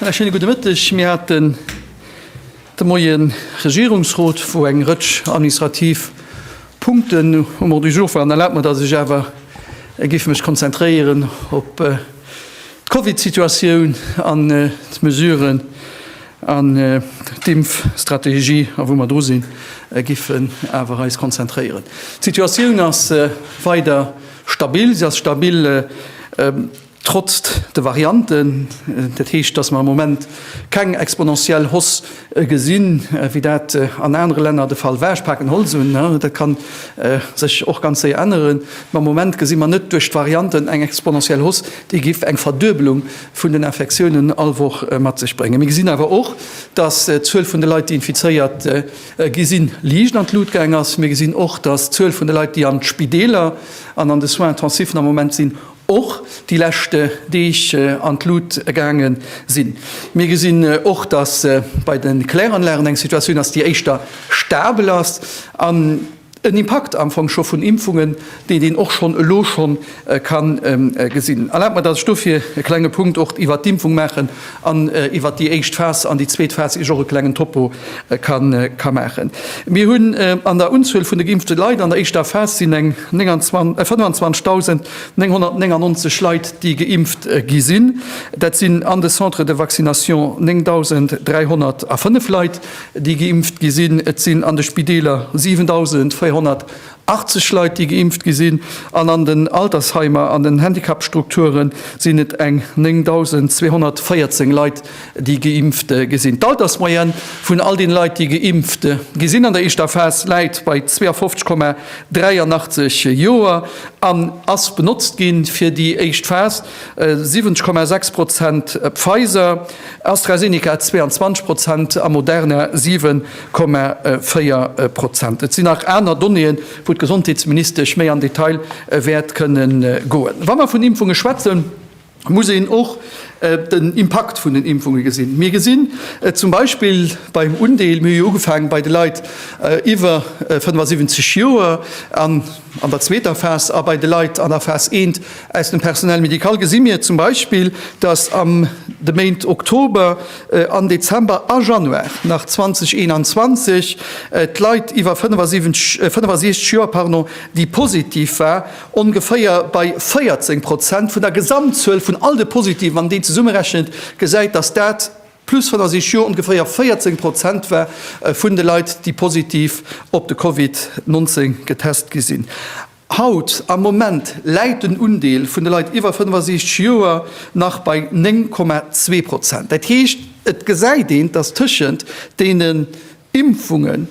Ë schéine gudde Mëtteg. Mir haten de Moien Regierungsrot, wou eng Rëtsch administrativ Punkten um Ordre du jour waren. Erlaabt mer, dass ech awer géif mech konzentréieren op d'Covidsituatioun an d'Mesuren, An d'Impfstrategie, a wou mer dru sinn, giffen awer eis konzentréieren. D'Situatioun ass weider stabil. Se ass stabil trotz de Varianten. Dat heescht, datt mer am Moment keng exponentiell Hoss gesinn, wéi dat an anere Länner de Fall war. Ech paken Holz un, dat ka sech och ganz séier änneren. Mä am Moment gesi mer net duerch d'Varianten eng exponentiell Hoss, déi giff eng Verduebelung vun den Infektiounen all Woch mat sech bréngen. Mir gesinn awer och, dass d'Zuel vun de Leit, déi infizéiert gi sinn, liicht an d'Lut gaang ass. Mir gesinn och, dass d'Zuel vun de Leit, déi an d'Spideeler an an de Soins intensif'en am Moment sinn, och déi lescht Deeg an d'Lut gaange sinn. Mir gesinn och, dass bei de Kläranlagen eng Situatioun ass, déi éischter stabel ass. En Impakt am Fong scho vun Impfungen, deen een och schonn elo scho ka gesinn. Erlaabt mer, dass ech dofir e klenge Punkt och iwwert d'Impfung maachen an iwwert déi éischt Phas an déi zweet Phas iech och e klengen Topo ka maachen. Mir hunn an der Unzuel vun de geimpfte Leit an der éischter Phas sinn eng 25.999 Leit, déi geimpft gi sinn. Dat sinn an de Centres de vaccination 9.305 Leit. déi geimpft gi sinn. Et sinn an de Spideeler 7.480 Leit, déi geimpft gi sinn, an an den Altersheimer an den Handicapstrukture sinn et eng 9.214 Leit, déi geimpft gi sinn. D'Altersmoyenne vun all deene Leit, déi geimpft gi sinn an der éischter Phas, läit bei 52,83 Joer an ass benotzt gi fir déi éischt Phas. 70,6 Prozent Pfizer, AstraZeneca 22 Prozent a Moderna 7,4 Prozent. Et sinn nach aner Donnéeën, wou d'Gesondheetsministesch méi an Detail wäert kënne goen. Wa mer vun Impfunge schwätzen, muss een och den Impakt vun den Impfunge gesinn. Mir gesinn et zum Beispill beim Undeel, mir hu jo ugefaange bei de Leit iwwer 75 Joer, an An der zweeter Phas a bei de Leit an der Phas I aus dem Personnel médical gesi mir zum Beispill, dass an de Méint Oktober an Dezember a Januar nach 2021 d'Leit iwwer 65 Joer, déi positiv war, ongeféier bei 14 Prozent vun der Gesamtzuel vun all de Positiven, wann een déi zesummerechent, gesäit, dass dat, Plus wann a sich jo ongeféier 14 Prozent war vun de Leit, déi positiv op de Covid 19 getest gi sinn. Haut am Moment läit den Undeel vun de Leit iwwer 65 Joer nach bei 9,2 Prozent. Dat heescht, et gesäit een, dass tëschent deenen Impfungen,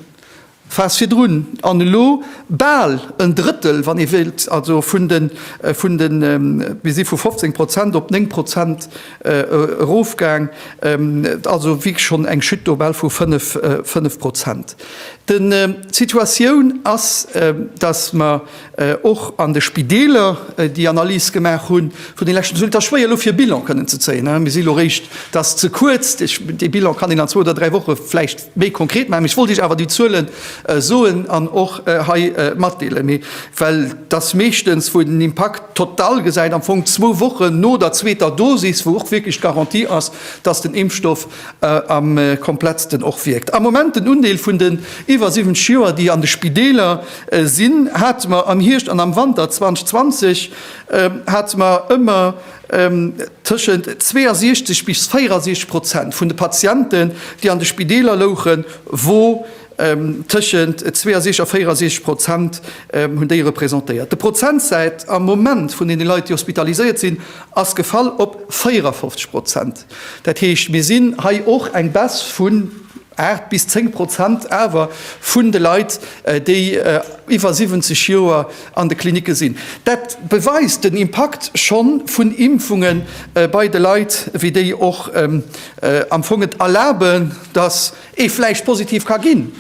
Phase virdrun an elo bal en Drëttel, wann ee wéilt, also vun de, vun de, mir si vu 15 Prozent op 9 Prozent erofgaang, also wierklech schonn eng Chute do bal vu 5, 5 Prozent. De, d'Situatioun ass, datt mer och an de Spideeler déi Analys gemaach hu vun de leschten, et ass schwéier elo fir e Bilan kënnen ze zéien, mir si elo réischt, dat ass ze kuerz, dee Bilan kann een an zwou oder dräi Woche vläicht, méi konkret maachen. Mee ech wollt Iech awer déi Zuelen soen an och hei matdeelen, mee well dass meeschtens, wou een den Impakt total gesäit, am Fong zwou Wochen no der zweeter Dosis, wou och wierklech d'Garantie ass, dass den Impfstoff am komplettsten och wierkt. Am Moment den Undeel vun den iwwer 70 Joer, déi an de Spideeler sinn, hate mer am Hierscht an am Wanter 2020 hate mer ëmmer, Tëschent 62 bis 64 Prozent vun de Patienten, déi an de Spideeler louchen, wou tëschent 62 a 64 Prozent hunn déi representéiert. De Prozentsäit am Moment vun deene Leit, déi hospitaliséiert sinn, ass gefall op 54 Prozent. Dat heescht, mir sinn hei och eng Baisse vun Aacht bis zéng Prozent awer vun de Leit, déi iwwer 70 Joer an de Klinicke sinn. Dat beweist den Impakt scho vun Impfunge bei de Leit, wéi déi och am Fong et erlaben, datt ee vläicht positiv ka ginn.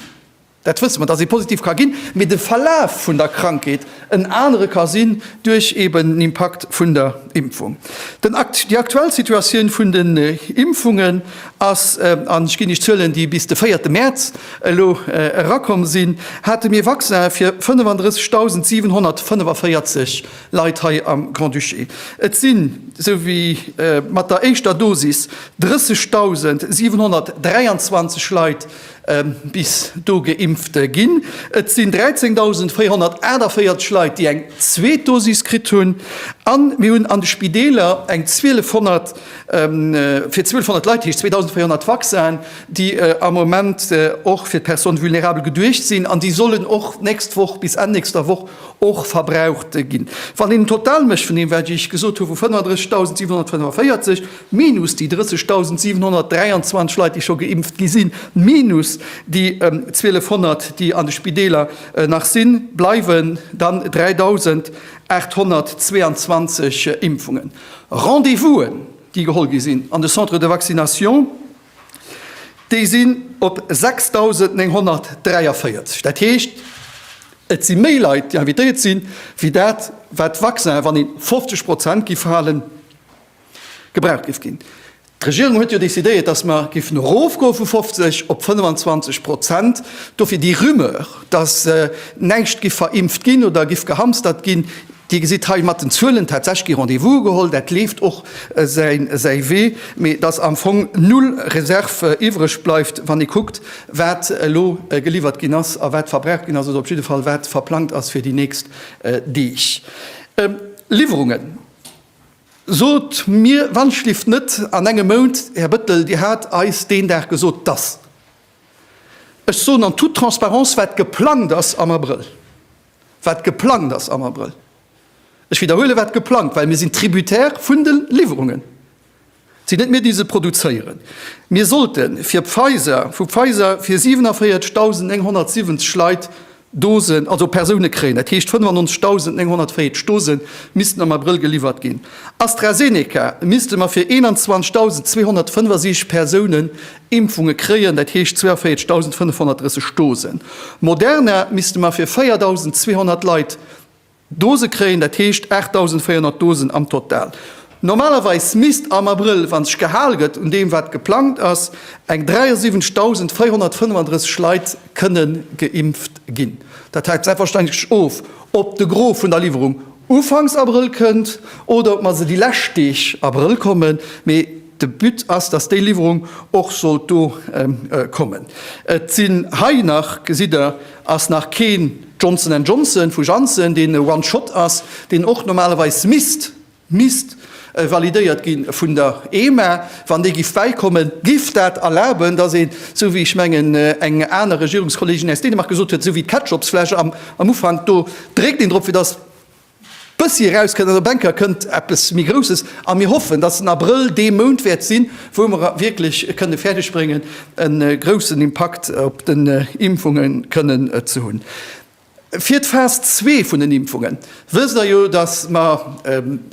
Dat wësse mer, datt ee positiv ka ginn, mee de Verlaf vun der Krankheet, en anere ka sinn duerch eben den Impakt vun der Impfung. Den Akt, déi aktuell Situatioun vun den Impfungen ass, an ech ginn Iech d'Zuelen, déi bis de véierte Mäerz elo erakomm sinn, hate mir Vaccin fir 35.745 Leit hei am Grand-Duché. Et sinn, esou wéi mat der éischter Dosis, 30.723 Leit bis do geimpft ginn. Et sinn 13.448 Leit, déi eng zweet Dosis kritt hunn. A mir hunn an de Spideeler eng 1200, fir 1200 Leit, dat heescht 2.400 Vaccinen, déi am Moment och fir d'Personnes vulnérables geduecht sinn an déi sollen och d'nächst Woch, bis Enn nächster Woch och verbraucht ginn. Wann een en Total mécht vun deem, wat ech gesot hu vu 35.745, Minus déi 30.723 Leit, déi scho geimpft gi sinn, minus déi 1.200, déi an de Spideeler nach sinn, bleiwen dann 3.822 Impfungen. Rendez-vousen, déi geholl gi sinn an de Centres de vaccination, déi sinn op 6.943. Dat heescht, et si méi Leit, déi invitéiert sinn, wéi dat, wat d'Vaccinen, wann ee 50 Prozent géif halen, gebraucht géif ginn. D'Regierung huet jo décidéiert, dass mer géifen erofgoe vu 50 op 25 Prozent. Dofir déi Rumeur, dass näischt giff verimpft ginn oder giff gehamstert ginn, Dir gesitt hei mat den Zuelen tatsächlech gi Rendez-vous geholl, dat leeft och säi Wee, mee dass am Fong null Reserve iwwreg bleift, wann ee kuckt, wat elo geliwwert ginn ass a wat verbraucht ginn ass oder op jidde Fall wat verplangt ass fir déi nächst Deeg. Liwwerungen. Sot mir wanschlift net an engem Mount, Här Bëttel, Dir hat eis deen Dag gesot, dass, ech soen en toute transparence, wat geplangt ass am Abrëll, wat geplangt ass am Abrëll, ech widderhuelen, wat geplangt, well mir sinn tributaire vun de Liwwerungen, Et sinn net mir, déi se produzéieren. Mir sollte fir Pfizer, vu Pfizer fir 47.970 Leit Dosen, also Persoune kréien. Dat heescht, 95.940 Dose missten am Abrëll geliwwert ginn. AstraZeneca misste mer fir 21.275 Persoune Impfunge kréien, dat heescht 42.530 Dosen. Moderna misste mer fir 4.200 Leit Dose kréien, dat heescht 8.400 Dosen am Total. Normalerweis misst am Abrëll, wa sech gehal gëtt un deem wat geplangt ass, eng 73.435 Leit kënne geimpft ginn. Dat hänkt selbstverständlech of, ob de Gros vun der Liwwerung Ufanks Abrëll kënnt oder ob mer se déi lescht Deeg Abrëll kommen. De But ass, dass déi Liwwerung och sollt do kommen. Et sinn hei nach, gesitt Der, ass nach keen Johnson and Johnson vu Janssen, deen e One Shot ass, deen och normalerweis misst, misst! validéiert gi vun der EMA. Wann dee giff bäikommen, giff dat erlaben, dass een, esou wéi ech mengen eng aner Regierungskollegin aus Dänemark gesot huet, esou wéi d'Ketchupsfläsch am Ufank, do dréckt een drop, fir dass, Bëssi eraus kënnt an der Benker kënnt eppes méi Grousses a mir hoffen, dass den Abrëll dee Mount wäert sinn, wou mer wierklech kënne fäerdeg bréngen, e groussen Impakt op den Impfunge kënnen ze hunn. Fir d'Phas zwee vun den Impfunge wësst Der jo, dass mer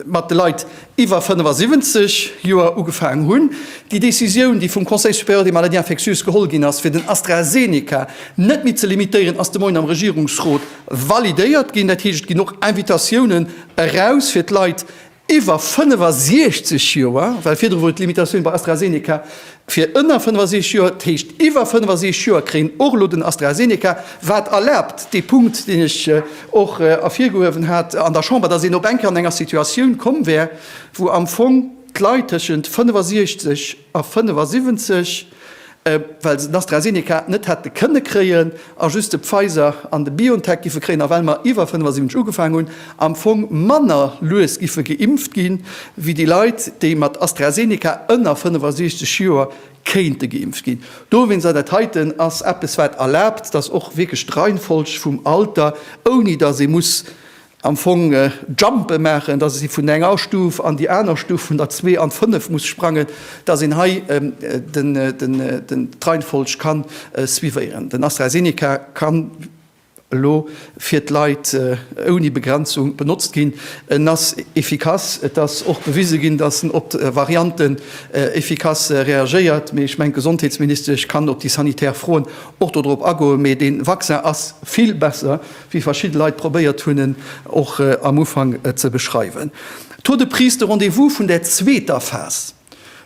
mat de Leit, iwwer 75 Joer ugefaangen hunn, déi Décisioun, déi vum Conseil supérieur des maladies infectieuses geholl ginn ass, fir den AstraZeneca net méi ze limitéieren, ass de Moien am Regierungsrot validéiert ginn. Dat heescht, et ginn och Invitatiounen eraus fir d'Leit iwwer 65 Joer, well virdru wor d'Limitatioun bei AstraZeneca Fir ënner 65 Joer, dat heescht iwwer 65 Joer, kréien och elo den AstraZeneca, wat erlaabt, dee Punkt, deen ech och ervirgehuewen hat an der Chamber, dass een op eng Kéier an enger Situatioun komm wär, wou am Fong d'Leit tëschent 65 a 75, well se den AstraZeneca net hätte kënne kréien, A just de Pfizer an de BioNTech giffe kréien, a well mer iwwer 75 ugefaang hunn, am Fong manner lues giffe geimpft gi wéi déi Leit, déi mat AstraZeneca ënner 65 Joer kéinte geimpft ginn. Dowéinst, a dat heiten ass eppes wat erlaabt, datt och wierklech d'Reihenfolg vum Alter, ouni datt ee muss am Fong Jumpe maachen, dass ee vun enger Stuf an déi aner Stuf, vun der zwee an d'fënnef muss sprangen, dass een hei d'Reihenfolg ka suivéieren. Den AstraZeneca ka elo fir d'Leit ouni Begrenzung benotzt ginn. En ass effikass. Et ass och bewise ginn, dass en op d'Varianten effikass reagéiert. Mee ech mengen, d'Gesondheetsministesch kann op déi sanitär Froen och dodrop agoen. Mee dee Vaccin ass vill besser, wéi verschidde Leit probéiert hunn en och am Ufank ze beschreiwen. D'Tour de Prise, de Rendez-vous vun der zweeter Phas,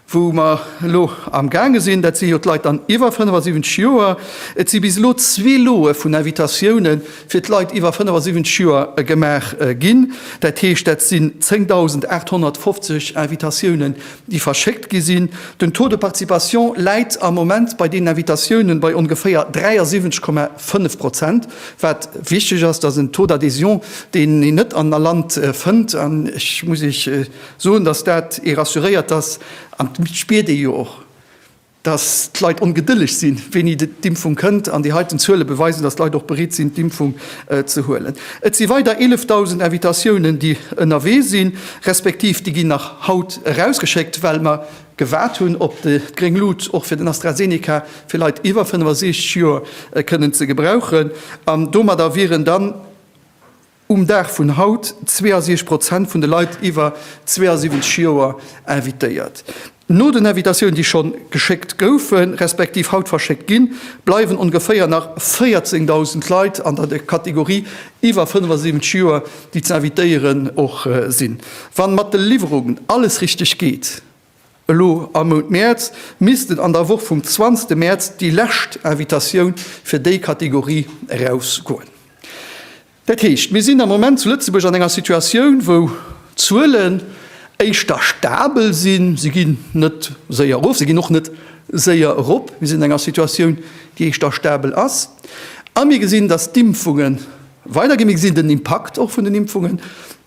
wou mer elo am gaange sinn, dat si jo d'Leit dann iwwer 75 Joer. Et si bis elo zwee Loe vun Invitatioune fir d'Leit iwwer 75 Joer gemaach ginn. Dat heescht, dat sinn 10.850 Invitatiounen, déi verschéckt gi sinn. Den Taux de participation läit am Moment bei deenen Invitatiounen bei ongeféier 73,5 Prozent, wat wichteg ass. Dat ass en Taux d'adhésion, deen een net an all Land fënnt. An ech muss Iech soen, dass dat ee rassuréiert, dass, an dat spiert ee jo och, dass d'Leit ongedëlleg sinn, wéini d'Impfung kënnt, an déi heiten Zuele beweisen, dass d'Leit och bereet sinn, d'Impfung ze huelen. Et si weider 11.000 Invitatiounen, déi ënnerwee sinn, respektiv déi ginn nach haut erausgeschéckt, well mer gewaart hunn op d'gréng Lut och fir den AstraZeneca fir Leit iwwer 65 Joer kënnen ze gebrauchen. An domadder wieren dann. Um Dag vun haut 62 Prozent vun de Leit iwwer 72 Joer invitéiert. No den Invitatiounen, déi schonn geschéckt goufen, respektiv haut verschéckt ginn, bleiwen ongeféier nach 14.000 Leit an der Kategorie iwwer 75 Joer, déi ze invitéieren och sinn. Wann mat de Liwwerungen alles richteg geet, Elo am Mount Mäerz missten an der Woch vum 20 Mäerz déi lescht Invitatioun fir déi Kategorie erausgoen. Dat heescht, mir sinn am Moment zu Lëtzebuerg an enger Situatioun, wou d'Zuelen éischter stabel sinn, se ginn net séier erof, se ginn och net séier erop, mir sinn an enger Situatioun, déi éischter stabel ass, a mir gesinn, datt d'Impfungen, Weider gi mir gesinn den Impakt och vun den Impfungen.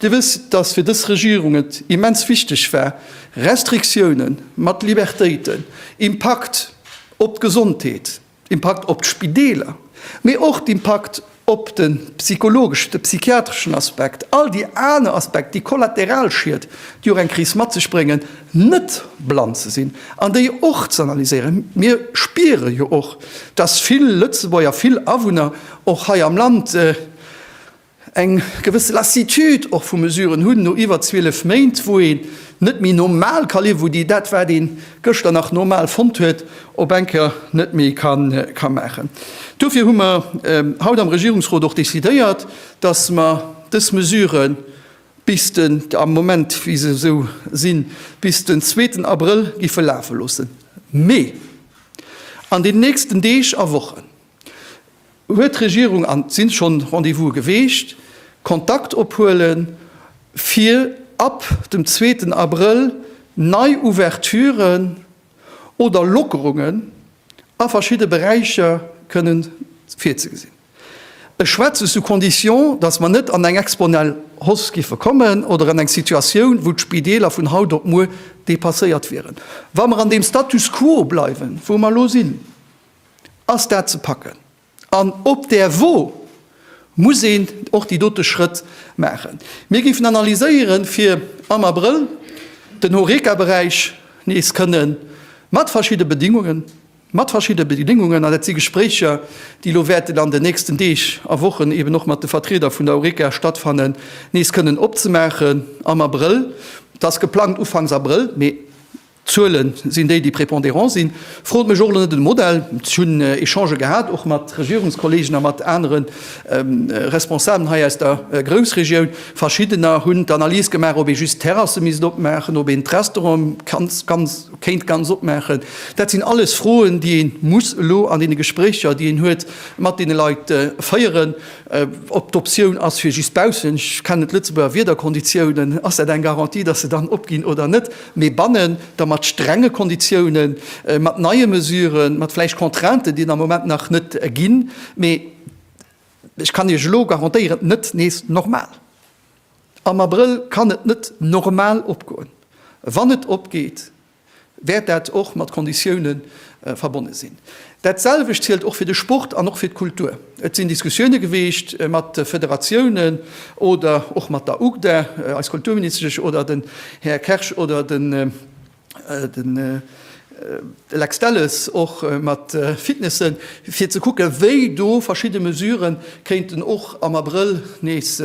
Dir wësst, dass fir dës Regierung et immens wichteg war, Restriktioune mat Libertéiten, Impakt op d'Gesondheet, Impakt op d'Spideeler, mee och d'Impakt op de psychologeschen, de psychiatreschen Aspekt, all déi aner Aspekt, déi Kollateralschied, déi och eng Kris mat sech bréngen, net blann ze sinn an déi och ze analyséieren. Mir spiere jo och, dass vill Lëtzebuerger, vill Awunner och hei am Land eng gewësse Lassitude och vu Mesuren hunn, no iwwer 12 Méint, wou een net méi normal ka liewen, wou déi dat, wat ee gëschter nach normal fonnt huet, op eng Kéier net méi ka maachen. Dofir hu mer haut am Regierungsrot och decidéiert, dass mer dës Mesure bis den, am Moment wéi se esou sinn, bis den zweeten Abrëll giffe lafe loossen, mee an den nächsten Deeg a Wochen, Huet d'Regierung, an et si schonn Rendez-vouse geweecht, Kontakt ophuelen, fir ab dem zweeten Abrëll nei Ouverturen oder Lockerungen a verschidde Beräicher kënnen virzegesinn? Ech schwätze sous condition, datt mer net an eng exponell Hausse géife kommen oder an eng Situatioun, wou d'Spideeler vun haut op muer depasséiert wieren, wa mer an deem Status quo bleiwen, wou mer elo sinn. Ass dat ze packen? An op där Wo muss een och déi dote Schrëtt maachen. Mir géifen analyséieren, fir am Abrëll den Horeca-Beräich nees kënnen mat verschidde Bedingungen, mat verschidde Bedingungen, an dat si Gespréicher, déi elo wäerten an den nächsten Deeg a Wochen eeben och mat de Vertrieder vun der Horeca stattfannen, nees kënnen opzemaachen am Abrëll. Dat ass geplangt ufanks Abrëll, mee D'Zuelen sinn déi, déi prépondérant sinn. Frot mech och elo net no dem Modell. Ech hunn Echangë gehat, och mat Regierungskollegen a mat anere Responsablen hei aus der Groussregioun. Verschiddener hunn d'Analys gemaach, ob ee just d'Terrasse misst opmaachen, ob een d'Restaurante kéint ganz opmaachen. Dat sinn alles Froen, déi ee muss elo an deene Gespréicher, déi een huet, mat deene Leit féieren. Ob d'Optioun ass fir just baussen, ech kennen d'Lëtzebuerger Wiederkonditiounen, ass dat eng Garantie, datt se dann opginn oder net? mee bannen der mat strenge Konditiounen, mat neie Mesuren, mat vläicht Contrainten, déi et am Moment nach net ginn, mee ech kann Iech elo garantéieren, net nees normal. Am Abrëll kann et net normal opgoen. Wann et opgeet, wäert dat och mat Konditioune verbonne sinn. Dat selwecht zielt och fir de Sport an och fir d'Kultur. Et sinn Diskussioune geweecht mat de Federatiounen oder och mat der UGDA, eis Kulturministesch oder den Här Kersch oder den Lex Delles och mat de Fitnessen, fir ze kucke wéi do verschidde Mesure kéinten och am Abrëll nees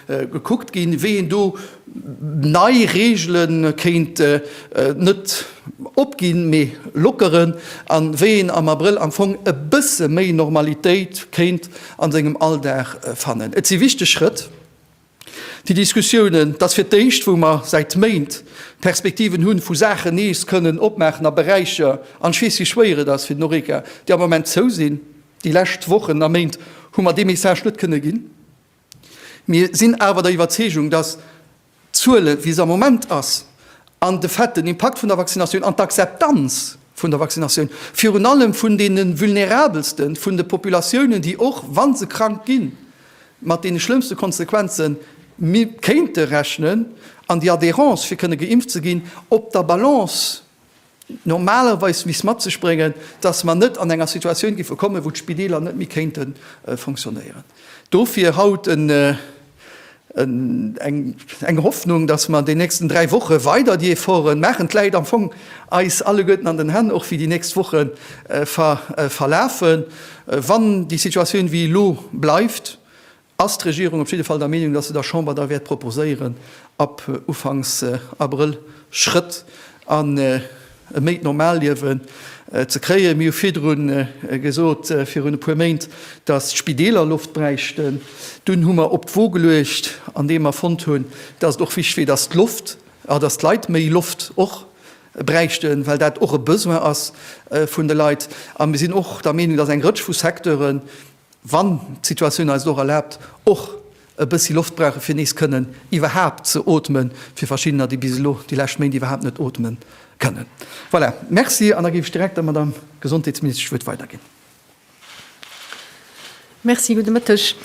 gekuckt ginn, wéi een do Nei Reegele kéint et net opginn, mee lockeren, a wéi een am Abrëll am Fong e bësse méi Normalitéit kéint a sengem Alldag fannen. Et si wichteg Schrëtt, déi Diskussiounen. Et ass fir d'éischt, wou mer säit Méint Perspektiven hunn, vu Saachen nees kënnen opmaachen a Beräicher, an ech weess, wéi schwéier et ass fir den Horeca, déi am Moment zou sinn. Déi lescht Wochen a Méint hu mer dee Message net kënne ginn. Mir sinn awer der Iwwerzeegung, dass d'Zuele wéi se am Moment ass an de Fait, den Impakt vun der Vaccinatioun an d'Akzeptanz vun der Vaccinatioun virun allem vun deene vulnerabelsten vun de Populatiounen, déi och wa se krank ginn, mat deene schlëmmste Konsequenzen kéinte rechnen, an déi Adhérence fir kënne geimpft ze ginn, op der Balance. normalerweis misst mat sech bréngen, dass mer net an enger Situatioun géife kommen, wou d'Spideeler net méi kéinte fonctionnéieren. Dofir haut eng Hoffnung, dass mer an den nächsten dräi Woche weider déi Efforte maachen, d'Läit am Fong eis alleguerten an den Hänn, och wéi déi nächst Woche verlafen. Wann déi Situatioun wéi elo bleift, ass d'Regierung op jidde Fall der Meenung, dass se der Chamber da wäert proposéieren, ab ufanks Abrëll Schrëtt an e méi normal Liewen ze kréien. Mir hu virdru gesot, virun e puer Méint, dass d'Spideeler Loft bräichten. Dunn hu mer op d'Wo geluecht, andeem mer fonnt hunn, dass et och wichtig wier, dass d'Loft, dass d'Leit méi Loft och bräichten, well dat och e Besoin ass vun de Leit. A mir sinn och der Meenung, dass eng Rëtsch vu Secteuren, wann d'Situatioun eis et och erlaabt, och e bëssi Loft brauchen, fir nees kënnen iwwerhaapt ze ootmen, fir verschiddener, déi bis elo déi lescht Méint iwwerhaapt net ootme kënnen. Voilà, Merci. An da géif ech direkt der Madamm Gesondheetsministesch d'Wuert weiderginn. Merci, gudde Mëtteg.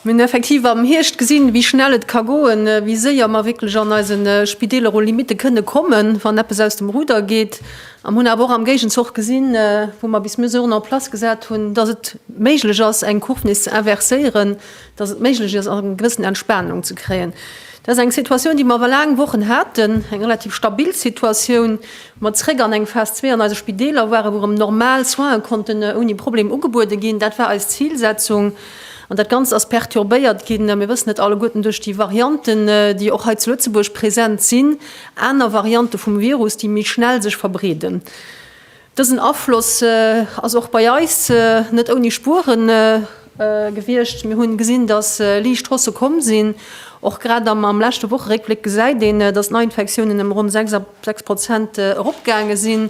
Mir hunn effektiv am Hierscht gesinn, wéi schnell et ka goen, wéi séier mer wierklech an eise Spideeler u Limitte kënne kommen, wann eppes aus dem Ruder geet. A mir hunn awer och am Géigenzoch gesinn, wou mer bis Mesuren en place gesat hunn, dass et méiglech ass, eng Courve nees ze inverséieren, dass et méiglech ass, eng gewëssen Entspanung ze kréien. Dat ass eng Situatioun, déi mer awer laang Wochen haten, eng relativ stabil Situatioun, wou mer zréck an eng Phas zwee an eise Spideeler waren, wou erëm normal Soine konnten ouni Problem ugebuede ginn. Dat war eis Zilsetzung. An dat Ganzt ass perturbéiert ginn, mir wëssen et alleguerten, duerch déi Varianten, déi och hei zu Lëtzebuerg present sinn. Aner Variante vum Virus, déi méi schnell sech verbreeden. Dësen Afloss ass och bei eis net ouni Spuere gewiescht. Mir hunn gesinn, datt liicht Haussë komm sinn. Och grad am leschte Wocheréckbléck gesäit een, datt d'Neiinfektiounen ëm ronn 6 a 6 Prozent eropgaange sinn.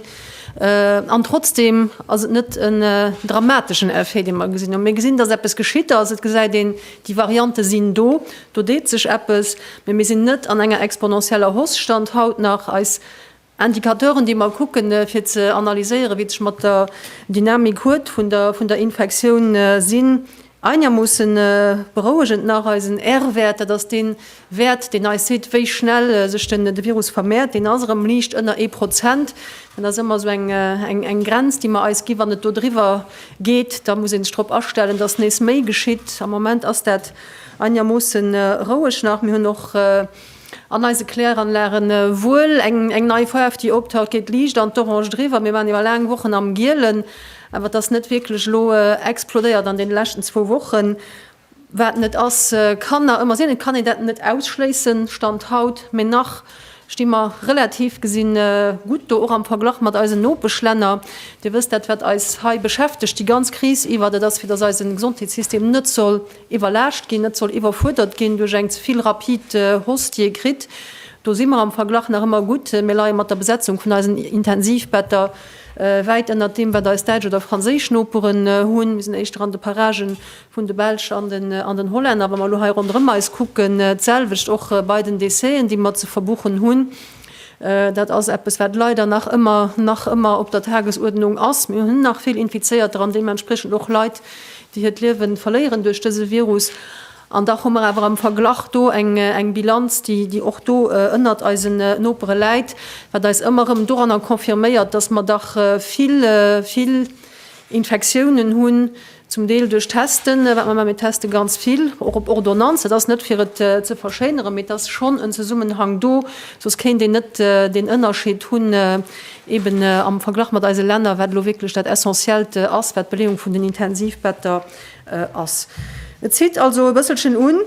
An trotzdeem ass et net en dramateschen Effet, dee mer gesinn hunn. Mir gesinn, datt eppes geschitt ass. Et gesäit een, déi Variante sinn do. Do deet sech eppes, mee mir sinn net an enger exponentieller Hausse, Stand haut nach. Eis Indicateuren, déi mer kucken, fir ze analyséieren, wéi et sech mat der Dynamik huet vun der Infektioun, sinn einermoossen berouegend nach. Eisen R-Wäert, dat ass dee Wäert, deen eis seet, wéi schnell sech de Virus vermehrt, deen ass erëm liicht ënner ee Prozent. Dat ass ëmmer esou eng Grenz, déi mer eis ginn. Wann et do driwwer geet, da muss ee sech drop astellen, dass nees méi geschitt. Am Moment ass dat Einigermoossen roueg nach. Mir hunn och an eise Kläranlagen wuel eng nei Faarf déi optaucht, geet liicht an d'Orange driwwer. Mir waren iwwer laang Wochen am Gielen, awer et ass net wierklech elo explodéiert an deene leschten zwou Wochen. Wat net ass, kann nach ëmmer sinn, et kann een dat net ausschléissen, Stand haut, mee nach sti mer relativ gesi gutt do, och am Verglach mat eisen Nopeschlänner. Dir wësst, dat wat eis hei beschäftegt déi ganz Kris iwwer, dat ass fir datt eise Gesondheetssystem net soll iwwerlaascht ginn, net soll iwwerfuerdert ginn duerch eng ze vill rapid Hoss déi e kritt. Do si mer am Verglach nach ëmmer gutt. Mir leie mat der Besetzung vun eisen Intensivbetter wäit ënnert deem wat eis däitsch oder franséisch Noperen hunn. Mir sinn éischter an de Paragen vun de Belsch an den Hollänner, wa mer elo hei ronderëm eis kucken, d'selwecht och bei den Déchet'en, déi mer ze verbuchen hunn. Dat ass eppes, wat leider nach ëmmer, nach ëmmer op der Tagesuerdnung ass. Mir hunn nach vill Infizéierter an deementspriechend och Leit, déi hiert Liewe verléieren duerch dëse Virus. An dach hu mer awer am Verglach do eng Bilanz, déi och do ënnert eisen Nopere läit, wat eis ëmmer erëm doranner confirméiert, dass mer dach vill, vill Infektiounen hunn, zum Deel duerch Testen, wat mer maachen, mir teste ganz vill, och op Ordonnance, dat ass net fir et ze verschéineren, mee et ass schonn en Zesummenhang do, soss kéint een net deen Ënnerscheed hunn eeben am Verglach mat eise Länner, wat elo wierklech dat Essentiellt ass, wat d'Beleeung vun den Intensivbetter ass. Et zitt also e bësselchen un,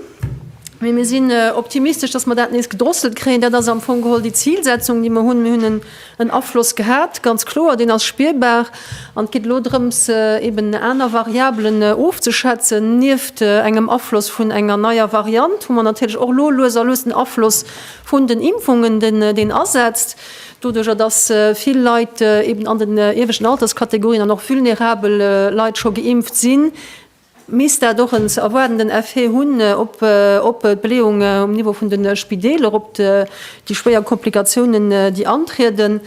mee mir sinn optimistesch, dass mer dat nees gedrosselt kréien. Dat ass am Fong geholl déi Zilsetzung, déi mer hunn. En Afloss gehat, ganz kloer, deen ass spierbar. An et geet elo drëms, eben aner Variabelen ofzeschätzen, nieft engem Afloss vun enger neier Variant, wou mer natierlech och elo lues a lues den Afloss vun den Impfungen, deen asetzt, doduerjer datt vill Leit eben an den ieweschten Alterskategorien an och vulnerabel Leit scho geimpft sinn, misst dat och en ze erwaardenden Effet hunn op op d'Beleeunge um Niveau vun de Spideeler, op déi schwéier Komplikatiounen, déi antrieden,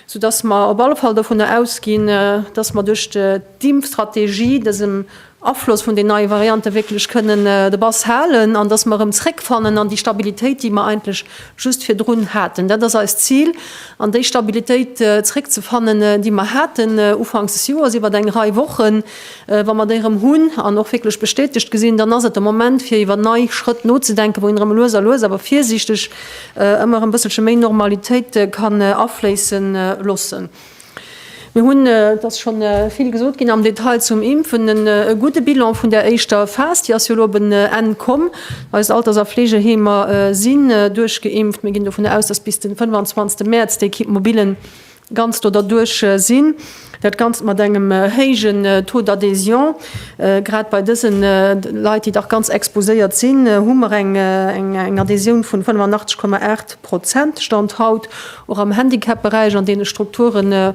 soudass mer op alle Fall dovunner ausginn, dass mer duerch d'Impfstrategie dësem Afloss vun den neie Variante wierklech kënnen de Bass halen an dass mer erëm zréckfannen an déi Stabilitéit, déi mer eigentlech just virdrun haten. Dat ass eist Zil, an déi Stabilitéit zréckzefannen, déi mer haten ufanks des Joers iwwert eng Rei Wochen. Wa mer déi erëm hunn an och wierklech bestätegt gesinn, dann ass et de Moment, fir iwwer nei Schrëtt nozedenken, wou een erëm lues a lues, awer virsiichteg, ëmmer erëm e bësselche méi Normalitéit kann afléisse loossen. Mir hunn, et ass scho vill gesot ginn am Detail zum Impfen, e gudde Bilan vun där éischter Phas. Déi ass jo elo op en Enn komm. Eis Alters a Fleegeheemer si duerchgeimpft. Mir ginn dovun aus, dass bis de 25. Mäerz déi Equipe mobile Ganzt do derduerch sinn. Dat Ganzt mat engem héijen Taux d'adhésion. Grad bei dëse Leit, déi dach ganz exposéiert sinn, hu mer eng Adhésioun vun 85,8 Prozent, Stand haut. Och am Handicapberäich, an deene Strukturen,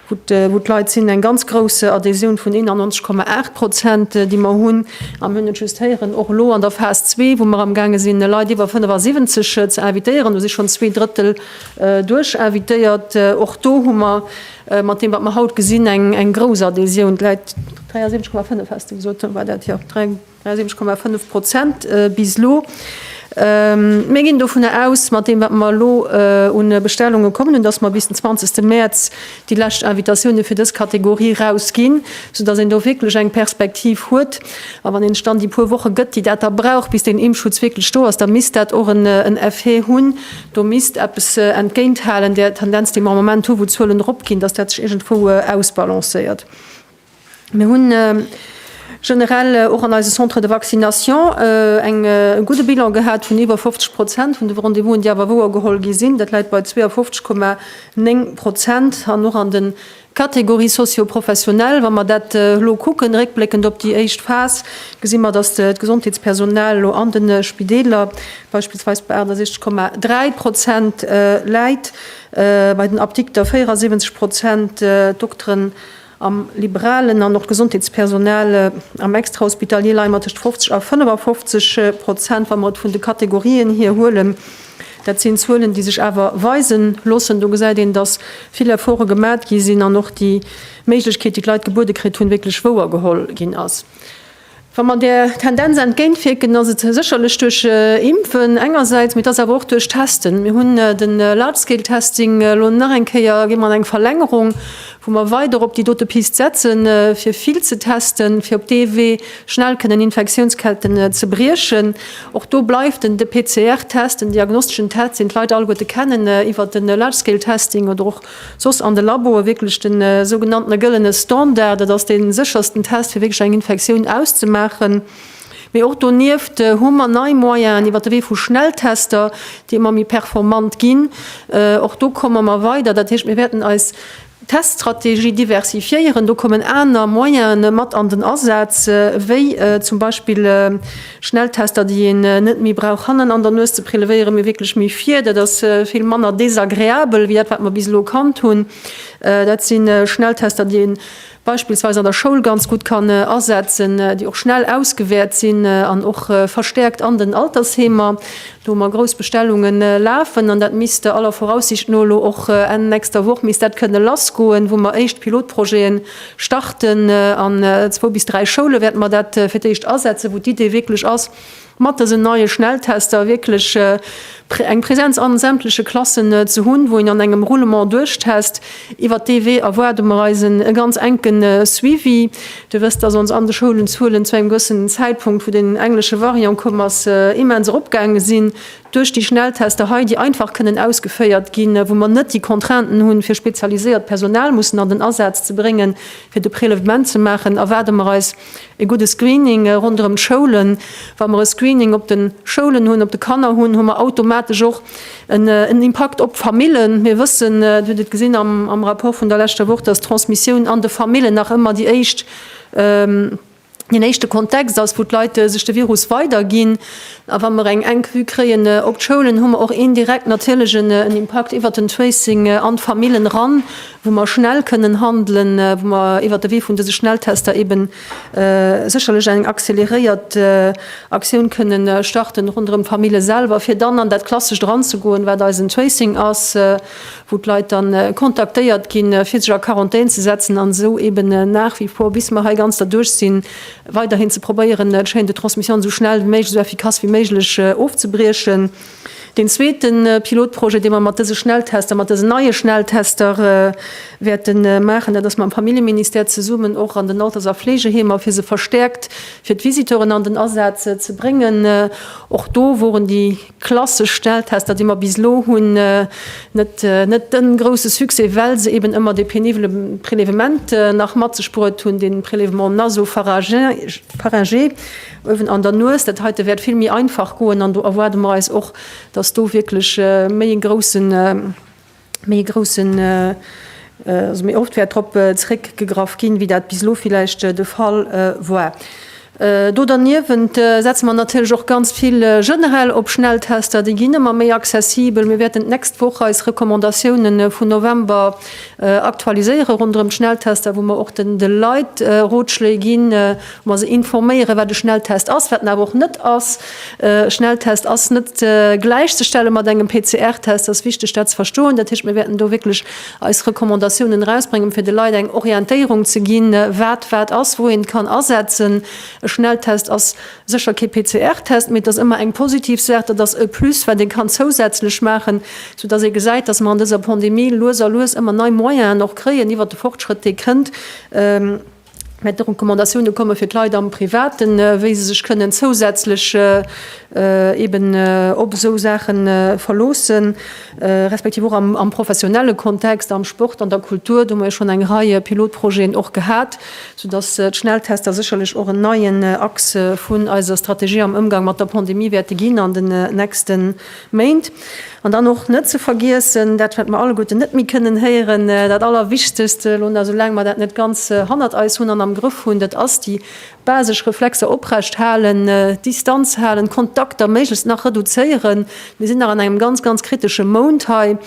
wou d'Leit sinn, eng ganz grouss Adhésioun vun 91,8 Prozent, déi mer hunn. A mir hunn et just héieren, och elo an der Phas zwee, wou mer amgaange sinn, Leit iwwer 75 ze invitéieren, hu si schonn zwee Drëttel, Duerch invitéiert. Och do hu mer mat deem, wat mer haut gesinn, eng grouss Adhésioun. D'Läit, 73,5 has de gesot, war dat? Jo, 73,5 Prozent bis elo. Mir ginn dovun aus, mat deem, wat mer elo un Bestellunge kommen hunn, dass mer bis den 20. Mäerz déi lescht Invitatioune fir dës Kategorie erausginn, soudass een do wierklech eng Perspektiv huet. A wann een sech dann déi puer Woche gëtt, déi dat da brauch, bis deen Impfschutz wierklech do ass, da misst dat och en Effet hunn, Do misst eppes entgéint halen där Tendenz, déi mer am Moment hu wou d'Zuelen erop ginn, dass dat sech iergendwou ausbalancéiert. Mir hu generell och an eise Centres de vaccination eng e gudde Bilan gehat vun iwwer 50 Prozent vun de Rendez-vousen, déi awer wouergeholl gi sinn. Dat läit bei 52,9 Prozent an och an de Catégorie socio-professionnelle, Wa mer dat elo kucken, réckbléckend op déi éischt Phas, gesi mer, datt d'Gesondheetspersonal elo an de Spideeler beispillsweis bei 68,3 Prozent läit, bei den Apdikter 74 Prozent, d'Dokteren am Liberalen an och d'Gesondheetspersonal am Extrahospitalier leie mer tëscht 50 a 55 Prozent, wa mer et vun de Kategorien hier huelen. Dat sinn Zuelen, déi sech awer weise loossen. Do gesäit een, dass vill Efforte gemat gi sinn an och déi Méiglechkeet, déi d'Leit gebuede kritt hunn, wierklech wouer geholl ginn ass. Wa mer där Tendenz entgéintwierken, ass et sécherlech duerch Impfen engersäits, mee et ass awer och duerch Testen. Mir hunn de Large-Scale-Testing elo nach eng Kéier, gi mer an eng Verlängerung, wou mer weider op déi dote Piste setzen, fir vill ze testen, fir op dee Wee Schnell kënnen Infektiounsketten zebriechen. Och do bleift en de PCR-Test den diagnosteschen Test, deen d'Leit alleguerte kennen iwwert de Large-Scale-Testing oder och soss an de Laboe wierklech de sougenanntene gëllene Standard. Dat ass dee séchersten Test, fir wierklech eng Infektioun auszemaachen. Mee och donieft hu mer nei Moyenen iwwert de Wee vu Schnelltester, déi ëmmer méi performant ginn. Och do komme mer weider. Dat heescht, mir wäerten eis Teststrategie diversifiéieren, do kommen aner Moyene mat an den Asaz, wéi zum Beispill Schnelltester, déi een net méi brauch hannen an der Nues ze prelewéieren, mee wierklech méi vir. Dat ass vill manner desagreabel wéi dat, wat mer bis elo kannt hunn. Dat si Schnelltester, déi ee beispillsweis an der Schoul ganz gutt kann asetzen, déi och schnell ausgewäert sinn an och verstäerkt an den Altersheemer. Do hu mer grouss Bestellungen lafen an dat misst aller Voraussicht no elo och Enn nächster Woch misst dat kënne lassgoen, wou mer éischt Pilotprojeten starten. An zwou bis dräi Schoule wäerte mer dat fir d'éischt asetzen, wou d'Idee wierklech ass, mat dësen neie Schnelltester wierklech eng Präsenz an sämtleche Klassen ze hunn, wou een an engem Roulement duerchtest. Iwwert dee Wee erwaarde mer eis e ganz enke Suivi. Dir wësst, dass ons an de Schoulen d'Zuelen zu engem gewëssenen Zäitpunkt, wou den englesche Variant komm ass, immens eropgaange sinn duerch déi Schnelltester hei, déi einfach kënnen ausgeféiert ginn, wou mer net déi Contrainten hunn, fir spezialiséiert Personal mussen an den Asaz ze bréngen, fir de Prélèvement ze maachen, erwaarde mer eis e gudde Screening ronderëm d'Schoulen. Wa mer e Screening op de Schoulen hunn, op de Kanner hunn, hu mer automatesch och En Impakt op d'Famillen. Mir wëssen, Dir hutt et gesinn am Rapport vun der leschter Woch, dass d'Transmissioun an de Famillen nach ëmmer déi éischt, deen éischte Kontext ass, wou d'Leit sech de Virus weiderginn. A wa mer eng enk Vue kréien op d'Schoulen, hu mer och indirekt natierlech en Impakt iwwert den Tracing an d'Famillen eran, wou mer schnell kënnen handelen, wou mer iwwert de Wee vun dëse Schnelltester eeben sécherlech eng accéléréiert Aktioun kënnen starten ronderëm d'Famille selwer, fir dann an dat Klassescht eranzegoen, wat eisen Tracing ass, wou d'Leit dann kontaktéiert ginn, fir sech a Quarantän ze setzen an esou eben nach wie vor, bis mer hei ganz derduerch sinn, weiderhin ze probéieren d'Chaîne de transmission esou schnell wéi méiglech, esou effikass wéi méiglech ofzebriechen. Deen zweete Pilotprojet, dee mer mat dëse Schnelltester, mat dësen neie Schnelltester wäerte maachen, dat ass mam Familljeministère zesummen och an den Alters a Fleegeheemer, fir se verstäerkt fir d'Visiteuren an den Asaz ze bréngen. Och do woren déi klassesch Schnelltester, déi mer bis elo hunn, net de grousse Succès, well se eeben ëmmer dee penibele Prélèvement nach mat sech bruet hunn, de Prélèvement naso-pharyngé. Uewen an der Nues, dat heite wäert vill méi einfach goen an do erwaarde mer eis och, dass do wierklech méi e groussen, méi e groussen, also méi oft wäert drop zréckgegraff ginn, wéi dat bis elo villäicht de Fall war. Do derniewent setze mer natierlech och ganz vill generell op Schnelltester. Déi ginn ëmmer méi accessibel. Mir wäerten d'nächst Woch eis Recommandatioune vun November aktualiséiere ronderëm d'Schnelltester, wou mer och de Leit Rotschléi ginn, Ma se informéieren, wat e Schnelltest ass, wat en awer och net ass. E Schnelltest ass net gläichzestelle mat engem PCR-Test. Dat ass wichteg, dat ze verstoen. Dat heescht, mir wäerten do wierklech eis Recommandatiounen erausbréngen, fir de Leit eng Orientéierung ze ginn, wat wat ass, wou een et kann asetzen. E Schnelltest ass sécher kee PCR-Test, mee et ass ëmmer eng positiv Saach. Dat ass e Plus, wat ee kann zousätzlech maachen, soudass ee gesäit, dass mer an dëser Pandemie lues a lues ëmmer nei Moyenen och kréien iwwert de Fortschrëtt, dee kënnt. Mä d'Recommandatiounen komme fir d'Leit am Privaten, wéi se sech kënnen zousätzlech eeben op esou Saache verloossen, respektiv och am professionelle Kontext, am Sport, an der Kultur. Do hu mer jo schonn eng Rei Pilotprojeten och gehat, soudass d'Schnelltester sécherlech och en neien Axe vun eiser Strategie am Ëmgang mat der Pandemie wäerte ginn an den nächste Méint. An dann och net ze vergiessen, dat wat mer alleguerten net méi kënnen héieren, dat Allerwichtegst elo nach, esou laang mer dat net ganz hannert eis hunn an am Grëff hunn, dat ass déi basesch Reflexer oprecht halen, Distanz halen, Kontakter méiglechst nach reduzéieren. Mir sinn nach an engem ganz, ganz kritesche Mount hei.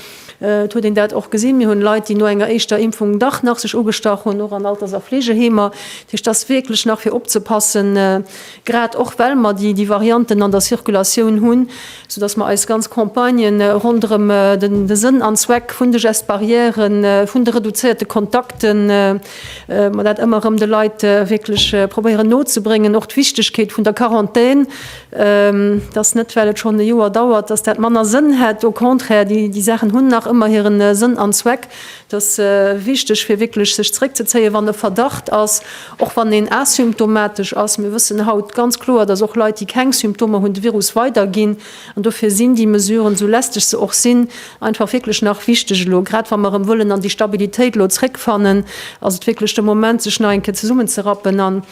Et huet een dat och gesinn, mir hunn Leit, déi no enger éischter Impfung dach nach sech ugestach hunn, och an Alters a Fleegeheemer. Dat heescht, et ass wierklech nach fir opzepassen. grad och well mer déi déi Varianten an der Circulatioun hunn, soudass mer eis ganz Campagne ronderëm de Sënn an Zweck vun de Gestes barrières, vun de reduzéierte Kontakten, mer dat ëmmer erëm de Leit wierklech probéieren nozebréngen, och d'Wichtigkeet vun der Quarantän, dass net well et schonn e Joer dauert, dass dat manner Sënn hätt, au contraire, déi déi Saachen hunn nach ëmmer hire Sënn an Zweck, Et ass wichteg, fir wierklech sech zeréckzezéien, wann e Verdacht ass, och wann een asymptomatesch ass. Mir wëssen haut ganz kloer, dass och Leit, déi keng Symptomer hunn, de Virus weiderginn. An dofir sinn déi Mesuren, esou lästeg se och sinn, einfach wierklech nach wichteg elo. Grad wa mer erëm wëllen an déi Stabilitéit elo zréckfannen, ass et wierklech de Moment, sech nach eng Kéier zesummenzerappen an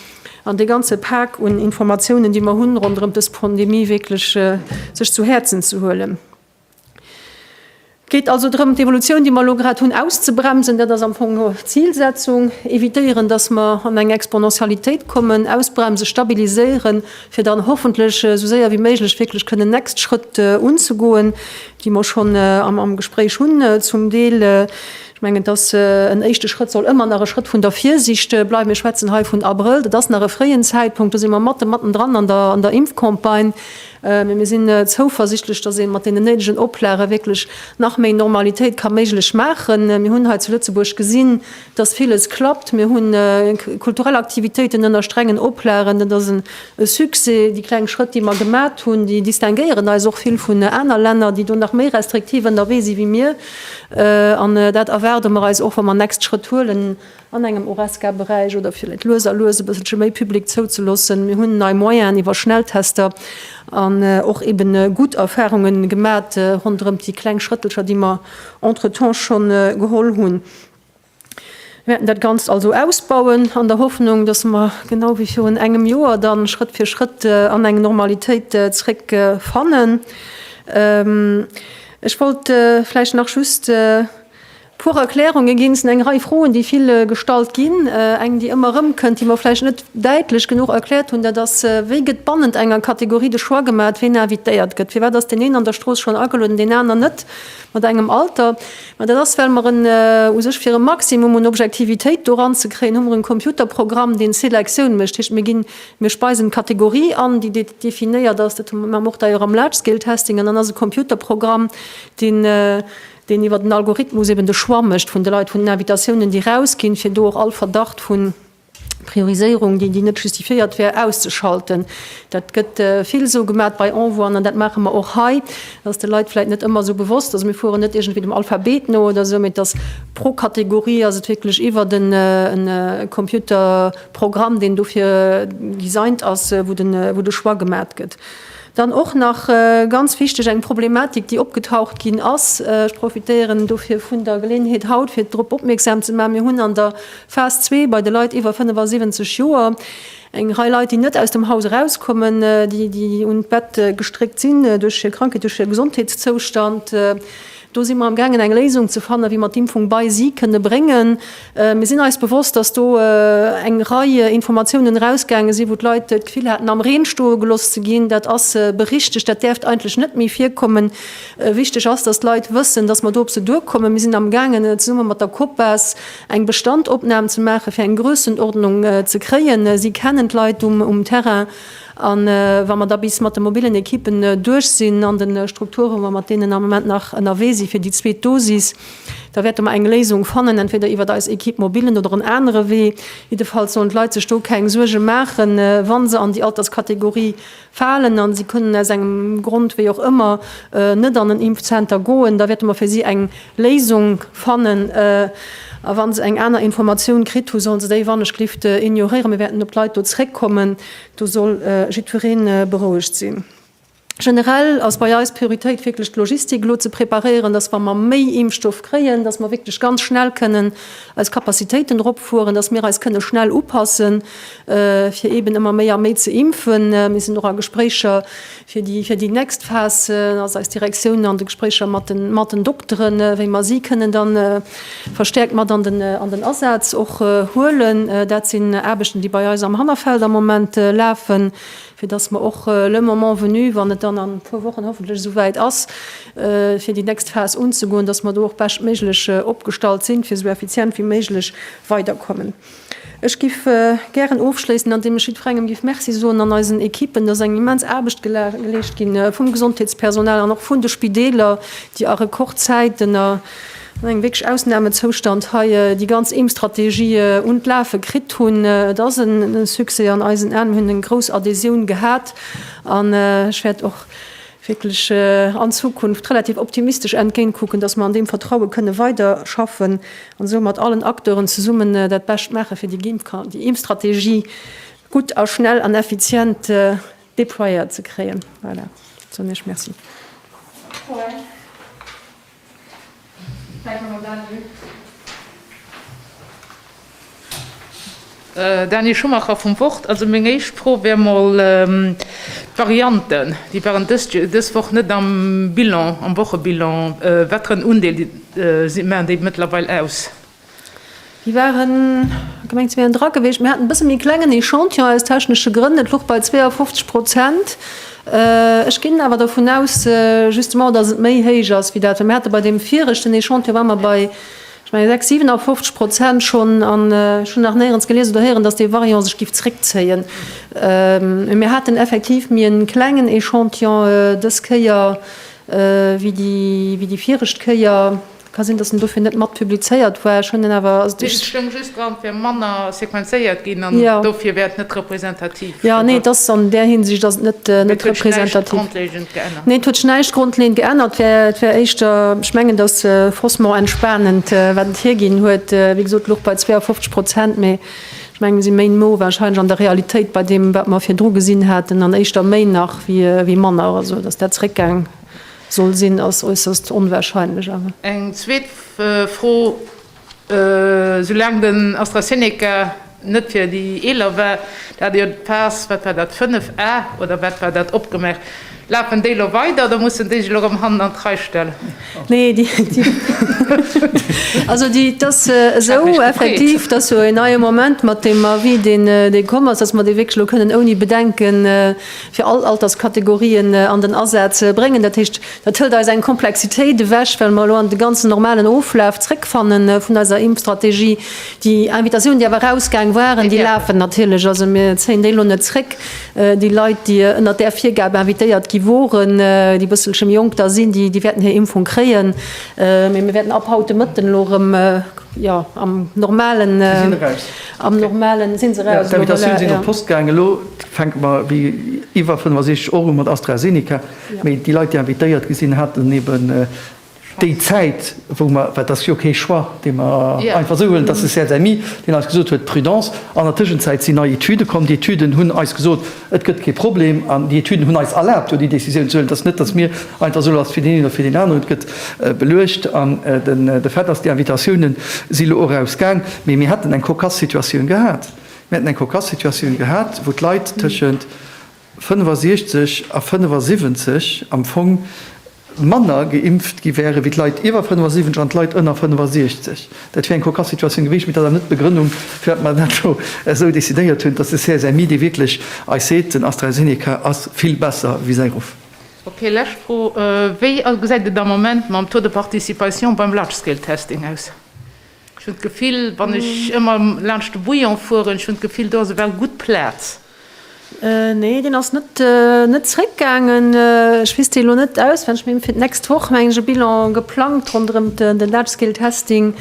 an dee ganze Pak un Informatiounen, déi mer hunn ronderëm dës Pandemie, wierklech sech zu Häerzen ze huelen. Et geet also drëm, d'Evolutioun, déi mer elo grad hunn, auszebremsen. Dat ass am Fong no d'Zilsetzung. Evitéieren, dass mer an eng Exponentialitéit kommen, ausbremsen, stabiliséieren, fir dann hoffentlech esou séier wéi méiglech wierklech kënnen next Schrëtt unzegoen, déi mer schonn am Gespréich hunn zum Deel. Ech mengen, dass en éischte Schrëtt soll ëmmer nach e Schrëtt vun der Virsicht bleiwen. Mir schwätzen hei vun Abrëll. Dat ass nach e fréien Zäitpunkt. Do si mer matten, matten dran an der Impfcampagne. Mee mir sinn zouversichtlech, datt ee mat deenen néidegen Oplage wierklech nach méi Normalitéit ka méiglech maachen. Mir hunn hei zu Lëtzebuerg gesinn, datt villes klappt. Mir hunn kulturell Aktivitéiten ënner strengen Oplagen. Dat ass e Succès. Déi kleng Schrëtt, déi mer gemat hunn, déi distinguéieren eis och vill vun aner Länner, déi do nach méi restriktiv ënnerwee si wéi mir. An dat erwaarde mer eis och, wa mer nächst Schrëtt huelen. an engem Horesca-Beräich oder villäit lues a lues e bësselche méi Public zouzeloossen. Mir hunn nei Moyenen iwwer Schnelltester an och eben gutt Erfahrunge gemat ronderëmt déi kleng Schrëttelcher, déi mer entretemps scho geholl hunn. Mir wäerten dat Ganzt also ausbauen an der Hoffnung, dass mer genau wéi virun engem Joer da Schrëtt fir Schrëtt an eng Normalitéit zréck fannen. Ech wollt vläicht nach just Puer Erklärungen ginn s, eng Rei Froen, déi vill gestallt ginn. Eng, déi ëmmer erëmkënnt, déi mer vläicht net däitlech genuch erkläert hunn, dat ass, Wéi gëtt bannent enger Kategorie de Choix gemaat, wien invitéiert gëtt? Firwat ass deen een an der Strooss schonn agelueden, deen aner net, mat engem Alter? Ma dat ass, well mer en, u sech fir e Maximum un Objektivitéit do eranzekréien, hu mer e Computerprogramm, deen d'Selektioun mécht. Dat heescht, mir ginn, mir speisen d'Kategorie an, déi definéiert ass. Dat hu mer, maache mer och d'ailleurs am Large-Scale-Testing. An dann ass e Computerprogramm, deen, deen iwwer den Algorithmus eben de Choix mécht vun de Leit, vun den Invitatiounen, déi erausginn, fir do och all Verdacht vu Prioriséierung, déi déi net justifiéiert wär, auszeschalten. Dat gëtt vill esou gemat bei Envoien an dat maache mer och hei. Dat ass de Leit vläicht net ëmmer esou bewosst. Also mir fueren net iergendwéi dem Alphabet no oder esou, mee et ass pro Kategorie ass et wierklech iwwert en Computerprogramm, deen dofir designed ass, wou de Choix gemat gëtt. Dann och nach ganz wichteg eng Problematik, déi opgetaucht ginn ass. Ech profitéieren dofir vun der Geleeënheet haut, fir drop opmierksam ze maachen, Mir hunn an der Phas zwee bei de Leit iwwer 75 Joer eng Rei Leit, déi net aus dem Haus erauskommen, déi un d'Bett gestréckt sinn duerch hir Krankheet, duerch hir Gesondheetszoustand. Do si mer am gaangen eng Léisung ze fannen, wéi mer d'Impfung bei si kënne bréngen. Mir sinn eis bewosst, dass do eng Rei Informatiounen erausgaange sinn, wou d'Leit d'Gefill haten, am Reen stoe gelooss ze ginn. Dat ass berichtegt, dat däerft eigentlech net méi virkommen. Wichteg ass, dass d'Leit wëssen, dass mer do op se duerkommen. Mir sinn am gaangen, zesumme mat der Copas eng Bestandopnam ze maachen, fir eng Grössenordnung ze kréien. Si kennen d'Leit um Terrain. A wa mer da bis mat de mobillen Ekippen duerch sinn an de Strukturen, wa mer mat deenen am Moment nach ënnerwee si fir déi zweet Dosis, da wäerte mer eng Léisung fannen, entweder iwwert eis Equipe mobile oder en anere Wee. Jiddefalls sollen d'Leit sech do keng Suerge maachen, wa se an déi Alterskategorie falen a se kënnen aus engem Grond wéi och ëmmer net an en Impfzenter goen, da wäerte mer fir si eng Léisung fannen. A wa se eng aner Informatioun kritt hu soll se déi wannechgelift ignoréieren. Mir wäerten op d'Leit do zréckkommen. Do soll jiddweree berouegt sinn. Generell ass bei eis d'Prioritéit wierklech d'Logistik elo ze preparéieren, dass wa mer méi Impfstoff kréien, dass mer wierklech ganz schnell kënnen eis Capacitéiten eropfueren, dass mir eis kënne schnell upassen, fir eeben ëmmer méi a méi ze impfen. Mir sinn och a Gespréicher Fir déi nächst Phas ass eis Direktioun an de Gespréicher mat den Dokteren, wéi mer si kënnen da verstäerkt mat an den Asaz och huelen. Dat sinn Aarbechten, déi bei eis am Hannerfeld am Moment lafen, fir datt mer och le moment venu, wann et dann an e puer Wochen hoffentlech esouwäit ass, fir déi nächst Phas unzegoen, datt mer do och beschtméiglech opgestallt sinn, fir esou effizient wéi méiglech weiderkommen. Ech giff gären ofschléissen an deem ech jiddferengem giff Merci soen an eisen Equipen. Dass eng immens Aarbecht geleescht ginn vum Gesondheetspersonal an och vun de Spideeler, déi a Rekordzäit an engem wierklech Ausnamezoustand hei déi ganz Impfstrategie un d'Lafe kritt hunn. Et ass e Succès an eisen Aen. Mir hunn eng grouss Adhésioun gehat an ech wäert och wierklech an d'Zukunft relativ optimistesch entgéintkucken, dass mer an deem Vertraue kënne weiderschaffen an esou mat allen Acteuren zesummen dat Bescht maache fir déi Impfstrategie gutt a schnell an effizient déployéiert ze kréien. Voilà, soen ech Merci. Dany Schumacher vum Wort. Also meng éischt Fro wär mol d'Varianten, déi waren dës Woch net am Bilan, am Wochebilan. Wat fir en Undeel maachen déi mëttlerweil aus? Déi waren gemengt ze wären dra geweecht. Mir haten e bësse méi klengen Echantillon aus technesche Grënn. Et louch bei 52 Prozent. Ech ginn awer dervun aus, justement, datt et méi héich ass wéi dat, well mir hate bei deem viregten Echantillon ware mer bei, ech menge, 56, 57 Prozent schonn. An ech hunn nach néierens gelies oder héieren, datt dee Variant sech géif zréckzéien. Mee mir haten effektiv méi e klengen Echantillon dës Kéier wéi déi viregte Kéier. Ka sinn, datt en dofir net mat publizéiert war. Ech hunn en awer. Et stoung just dran, et wär manner sequenzéiert ginn an dofir wär et net representativ. Jo, nee, et ass an där Hinsicht ass et net representativ. Mee et huet sech näischt grondlegend geännert. Nee, et huet sech näischt grondlegend geännert. Et wär éischter, ech mengen, datt faussement entspanend, wat et hierginn huet. Wéi gesot, luch bei 52 Prozent, mee ech mengen, mir si méi no warscheinlech an der Realitéit bei deem, wat mer virdru gesinn haten, an éischter méi nach wéi manner, also datt dat zeréckgaang. Soll sinn, ass äusserst onwahrscheinlech awer. Eng zweet Fro, Esou laang den AstraZeneca net fir déi Eeler war, da hat Dir d'Phas, wat war dat, 5a oder wat war dat, opgemaach. Lafen déi elo weider oder mussen déi sech elo erëm hannen an d'Rei stellen? Nee, déi, also déi, et ass esou effektiv, datt jo een hei am Moment mat deem Avis, deen komm ass, datt mer dee wierklech elo kënnen ouni Bedenken, fir all Alterskategorien an den Asaz ze bréngen. Dat heescht, dat hëlt eis eng Komplexitéit ewech, well mer elo an de ganzen normalen Oflaf zréckfanne vun eiser Impfstrategie. Déi Invitatioun, déi awer erausgaang waren, déi lafen natierlech. Also mir zéien déi elo net zréck. Déi Leit, déi ënnert där Virgab invitéiert gi woren, déi e bësselche méi jonk da sinn, déi wäerten hir Impfung kréien. Mee mir wäerten ab haut de Mëtten elo erëm am normalen. Am normalen sinn se raus. D'Invitatioune sinn op d'Post gaangen. Elo fänke mer wéi iwwer 65 Euro mat AstraZeneca. Mee déi Leit, déi invitéiert gi sinn, haten eben déi Zäit, wou mer, well et ass jo kee Choix, dee mer einfach esou huelen, et ass de CSMI, deen eis gesot huet, Prudence. An der Tëschenzäit sinn nei Etüde komm. Déi Etüden hunn eis gesot, Et gëtt kee Problem, an déi Etüden hunn eis erlaabt, jo déi Décisioun ze huelen. Et ass net, datt mir einfach soen, ass fir deen een oder fir deen aneren. Et gëtt beluecht an de fait ass, déi Invitatioune si elo och erausgaang. Mee mir hätten eng cocasse Situatioun gehat. Mir hätten eng cocasse Situatioun gehat, wou d'Leit tëschent 65 a 75 am Fong, manner geimpft gi wären, wéi d'Leit iwwer 75 an d'Leit ënner 65. Dat wier eng kokass Situatioun gewiescht, mee dat ass net d'Begrënnung, firwat mer dat elo esou decidéiert hunn, dass de CSMI, dee wierklech eis seet, den AstraZeneca ass vill besser wéi säi Ruff. Ok, lescht Fro, Wéi gesäit et am Moment mam Taux de participation beim Large-Scale-Testing aus? Ech hunn d'Gefill, wann ech ëmmer laanscht de Bouillon fueren, ech hunn d'Gefill, do ass ewell gutt Plaz. Nee, deen ass net net zréckgaangen. Ech weess déi elo net auswenneg, mee fir d'nächst Woch mengen ech e Bilan geplangt ronderëm den Large Scale Testing.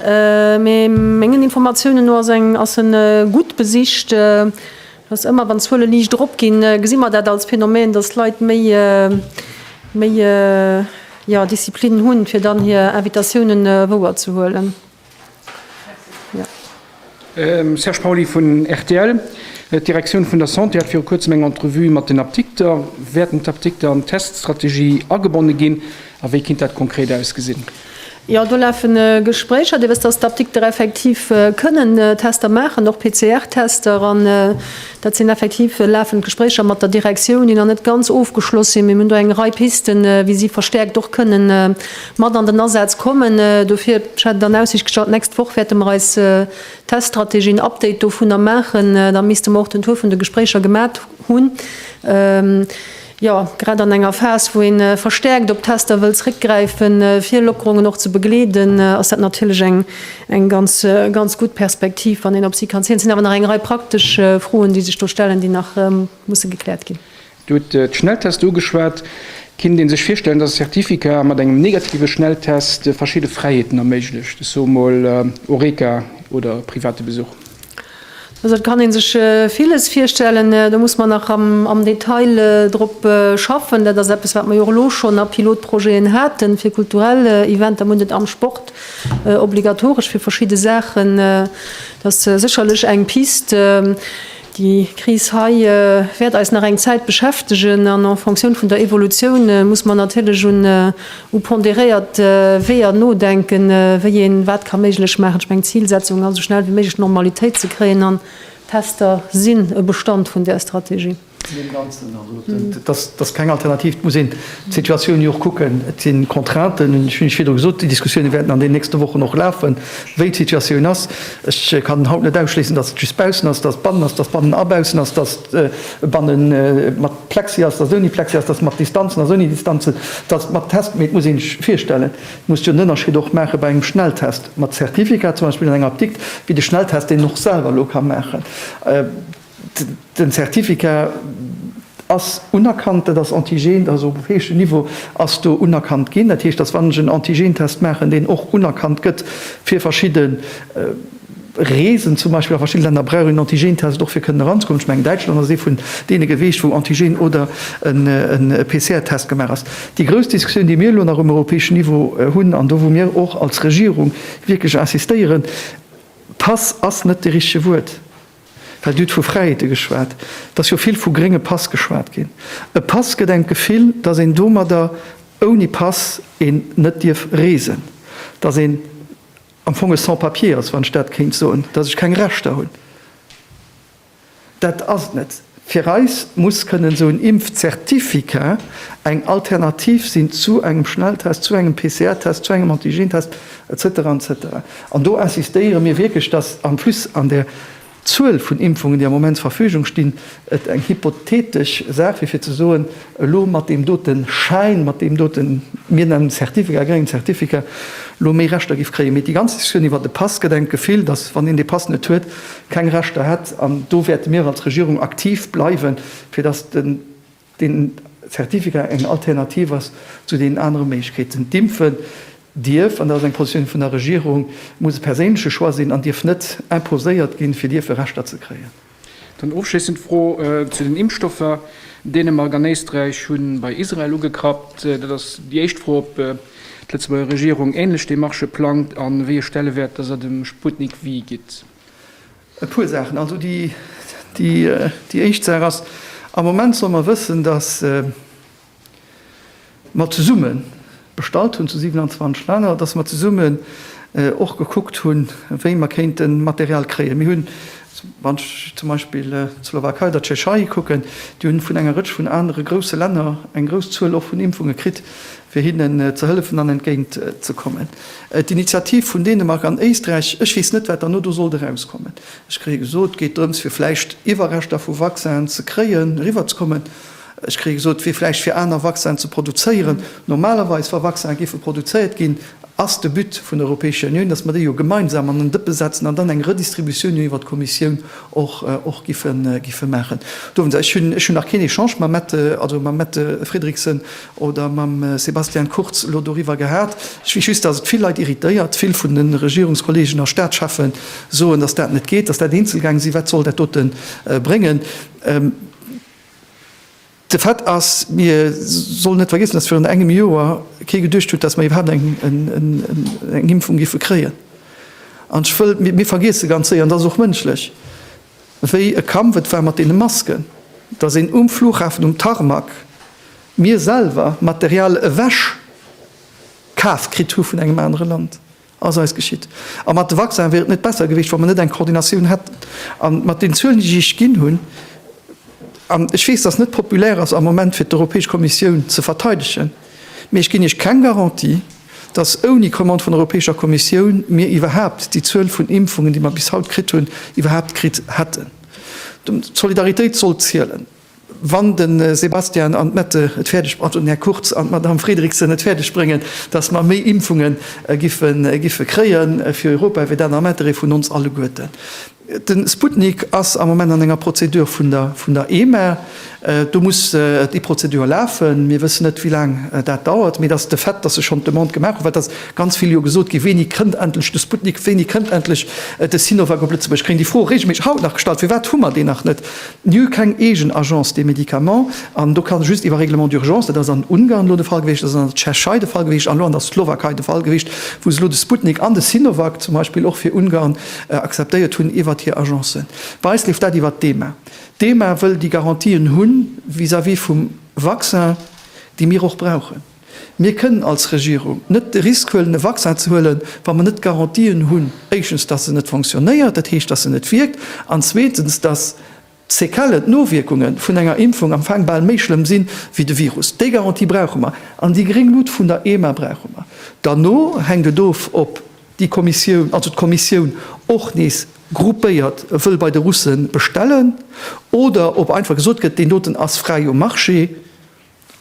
Mee mengen Informatiounen no ass eng ass e gutt besicht. Dass ëmmer wann d'Zuele liicht erop ginn, gesi mer dat als Phänomen, dass Leit méi méi jo Disziplin hunn, fir dann hir Invitatiounen wouer ze huelen. Serge Pauly vun rtl, D'Direktioun vun der Santé hat viru kuerzem eng Entrevue mat den Apdikter. Wäerten d'Apdikter an d'Teststrategie agebonne ginn a wéi kinnt dat konkret ausgesinn? Jo, do lafen Gespréicher. Dir wësst, dass d'Apdikter effektiv kënnen Tester maachen, och PCR-Tester. An dat sinn effektiv lafend Gespréicher mat der Direktioun, déi nach net ganz ofgeschloss sinn. Mee mir hunn do eng Rei Pisten, wéi si verstäerkt och kënnen mat an den Asaz kommen. Dofir, ech hat et an Aussicht gestallt, d'nächst Woch wäerte mer eis Teststrategie, en Update dovunner maachen. Da misste mer och den Tour vun de Gespréicher gemat hunn. Jo, grad an enger Phas, wou ee verstäerkt op Tester wëll zréckgräifen, fir Lockerungen och ze begleeden, ass dat natierlech eng ganz, ganz gutt Perspektiv, wann een op si kann zielen. Et sinn awer nach eng Rei praktesch Froen, déi sech do stellen, déi nach musse gekläert ginn. Dir hutt d'Schnelltester ugeschwat. Kinnt ee sech virstellen, dass e Certificat mat engem negative Schnelltest verschidde Fräiheeten erméiglecht, ech soe mol Horeca oder private Besuch? Also et kann ee sech villes virstellen. Do muss mer nach am Detail drop schaffen. Dat ass eppes, wat mer jo och elo schonn a Pilotprojeten haten, fir kulturell Eventer. Mer hunn et am Sport obligatoresch fir verschidde Saachen. Dat ass sécherlech eng Pist. Déi Kris hei wäert eis nach eng Zäit beschäftegen an en Fonctioun vun der Evolutioun muss mer natierlech un u pondéréiert Weeër nodenken, wéi een wat ka méiglech maachen. Ech mengen, d'Zilsetzung ass, esou schnell wéi méiglech Normalitéit ze kréien, an d'Tester sinn e Bestand vun där Strategie. Zu deem Ganzen, also et ass keng Alternativ, et muss een d'Situatioun jo och kucken. Et si Contrainten, ech hunn virdru gesot, déi Diskussioune wäerten an deenen nächste Wochen och lafen, wéi d'Situatioun ass. Ech kann haut net ausschléissen, datt et just baussen ass, datt et bannen ass, datt et bannen a baussen ass, datt et bannen mat. Plexi ass, dass ouni Plexi ass, dass mat Distanzen ass, ouni Distanzen, dass mat Test, mee et muss ee sech virstellen, et muss jo en Ënnerscheed och maache bei engem Schnelltest mat Zertifikat, zum Beispill an enger Apdikt, wéi de Schnelltest, deen een och selwer elo ka maachen. Den Zertifikat ass unerkannt, dat ass Antigen, dat ass op héischem Niveau ass do unerkannt ginn. Dat heescht, dass wann ech en Antigen-Test maachen, deen och unerkannt gëtt fir verschidde. Reesen zum Beispill a verschidde Länner brauch een Antigen-Test och fir kënnen eranzekommen. Ech mengen Däitschland ass ee vun deene geweecht wou Antigen oder en PCR-Test gemaach ass. Déi grouss Diskussioun déi mir elo nach um europäeschen Niveau hunn an do wou mir och als Regierung wierklech insistéieren, Pass ass net de richtege Wuert, well Dir hutt vu Fräiheete geschwat, et ass jo vill vu grénge Pass geschwat ginn. E Pass gëtt engem d'Gefill, datt een domadder ouni Pass een net dierf reesen, datt een, Am Fong e Sans-papiers, wann ech dat kéint soen, datt ech keng Rechter hunn. Dat ass et net. Fir eis muss kënnen esou en Impfzertificat eng Alternativ sinn zu engem Schnelltest, zu engem PCR-Test, zu engem Antigentest, et cetera, et cetera. An do insistéiere mir wierklech, datt en plus an där D'Zuel vun Impfungen, déi am Moment zur Verfügung stinn, et eng hypothetesch Saach, wéi fir ze soen, elo mat deem doten Schäin, mat deem doten, mir nennen e Certificat, e gréngen Certificat, elo méi Rechter giff kréien. Mee déi ganz Diskussioun iwwert de Pass gëtt engem d'Gefill, datt, wann een dee Pass net huet, keng Rechter hätt. An do wäerte mir als Regierung aktiv bleiwen, fir datt den. Deen Zertifikat eng Alternativ ass zu deenen anere Méiglechkeeten. D'Impfen dierf, an dat ass eng Positioun vun der Regierung, muss e perséinleche Choix sinn an dierf net imposéiert ginn, fir dierfe Rechter ze kréien. Dann ofschléissend d'Fro zu den Impfstoffer. Dänemark an Éisträich hu bei Israel ugekrappt. Dat ass déi éischt Fro, ob d'Lëtzebuerger Regierung änlech Demarchë plangt a wéi e Stellewäert dass der dem Sputnik-V gitt. E puer Saachen. Also déi éischt Saach ass, am Moment solle mer wëssen, datt mer zesumme bestallt hunn zu 27 Länner, datt mer zesummen och gekuckt hunn, wéi mer kéinte Material kréien. Mir hunn, wann ech zum Beispill d'Slowakei, der Tschechei kucken, déi hu vun enger Rëtsch vun anere grousse Länner eng grouss Zuel och vun Impfunge kritt. fir hinnen ze hëllefen an entgéint ze kommen. D'Initiativ vun Dänemark an Éisträich, ech weess net, wat derno do sollt erauskommen. Ech kréie gesot, et geet drëms, fir vläicht Iwwerreschter vu Vaccinen ze kréien, eriwwer ze kommen. Ech kréie gesot, et wier vläicht fir aner Vaccinen ze produzéieren. Normalerweis, wa Vaccinen géife produzéiert ginn, ass de But vun der Europäescher Unioun, dass mer déi jo gemeinsam an en Dëppe setzen an dann eng Redistributioun jo iwwert d'Kommissioun och giffe maachen. Do hunn se, ech hunn nach keen Echange mam Mette, also mam Mette Frederiksen, oder mam Sebastian Kurz elo doriwwer gehat. Ech weess just, dass et vill Leit irritéiert. Vill vun de Regierungskollegen a Staatscheffe soen, dass dat net geet, dass dat Eenzelgäng sinn. Wat soll dat doten bréngen? De Fait ass, mir sollen net vergiessen, dass virun engem Joer kee geduecht huet, dass mer iwwerhaapt eng Impfung géife kréien. An ech wëll, mir vergiesse ganz séier, an dat ass och mënschlech, Wéi e Kampf et war mat deene Masken, dass een um Flughafen um Tarmac, mir selwer, Material ewech kaf kritt hu vun engem anere Land, ass eis geschitt. A mat de Vaccin wier et net besser gewiescht, wa mer net eng Koordinatioun hätten. A mat den Zuelen, déi ech ginn hunn, an ech weess, dass et net populär ass am Moment fir d'Europäesch Kommissioun ze verteidegen, Mee ech ginn Iech keng Garantie, datt ouni Commande vun der Europäescher Kommissioun mir iwwerhaapt déi Zuel vun Impfungen, déi mer bis haut kritt hunn, iwwerhaapt kritt hätten. D'Solidaritéit soll zielen. Wann de Sebastian an d'Mette et fäerdeg, pardon, den Här Kurz an d'Madame Fredriksen et fäerdeg bréngen, datt mer méi Impfungen giffe kréien fir Europa, wéi dat am Intérêt vun ons alleguerten De Sputnik ass am Moment an enger Prozedur vun der EMA. Do muss déi Prozedur lafen. Mir wëssen net, wéi laang dat dauert. Mee de Fait, dass se schonn d'Demande gemaach hunn, well et ass ganz vill jo gesot ginn, Wéini kënnt endlech de Sputnik? Wéini kënnt endlech de Sinovac op Lëtzebuerg? Ech kréien déi Fro reegelméisseg haut nach gestallt, Firwat hu mer deen nach net? Mir hu keng eegen Agence des médicaments. An do ka just iwwer Règlement d'urgence, dat ass an Ungarn elo de Fall gewiescht, dat ass an der Tschechei de Fall gewiescht an elo an der Slowakei de Fall gewiescht, wou se elo de Sputnik an de Sinovac zum Beispill och fir Ungarn akzeptéiert hunn iwwert hir Agencen. Bei eis leeft dat iwwert d'EMA. D'EMA wëll déi Garantien hu vis-à-vis vum Vaccin, déi mir och brauchen. Mir kënnen als Regierung net de Risk huelen, e Vaccin ze huelen, wa mer net d'Garantien hunn, éischtens, dass en net fonctionnéiert, dat heescht, dass en net wierkt, an zweetens, dass, D'Séquellen, d'Nowierkunge vun enger Impfung am Faang bal méi schlëmm sinn, wéi de Virus. Déi Garantie brauche mer. An déi gréng Luut vun der EMA brauche mer. Derno hänkt et of, ob déi Kommissioun, also d'Kommissioun och nees gruppéiert wëll bei de Russe bestellen oder ob einfach gesot gëtt, deen doten ass fräi um Marché.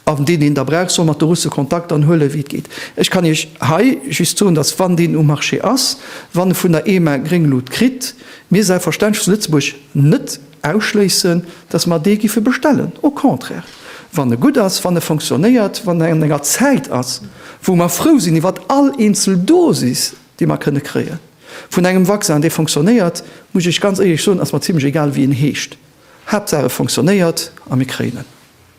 An deen, deen da brauch, soll mat de Russe Kontakt anhuelen, wéi et geet. Ech kann Iech hei just soen, dass, wann deen um Marché ass, wann e vun der EMA gréng Lut kritt, mir selbstverständlech zu Lëtzebuerg net ausschléissen, dass mer dee giffe bestellen. Au contraire, wann e gutt ass, wann e fonctionnéiert, wann e an enger Zäit ass, wou mer frou sinn iwwer all eenzel Dosis, déi mer kënne kréie vun engem Vaccin, dee fonctionnéiert, muss ech Iech ganz éierlech soen, ass mer zimlech egal, wéi en heescht, Haaptsaach e fonctionnéiert a mir kréien en.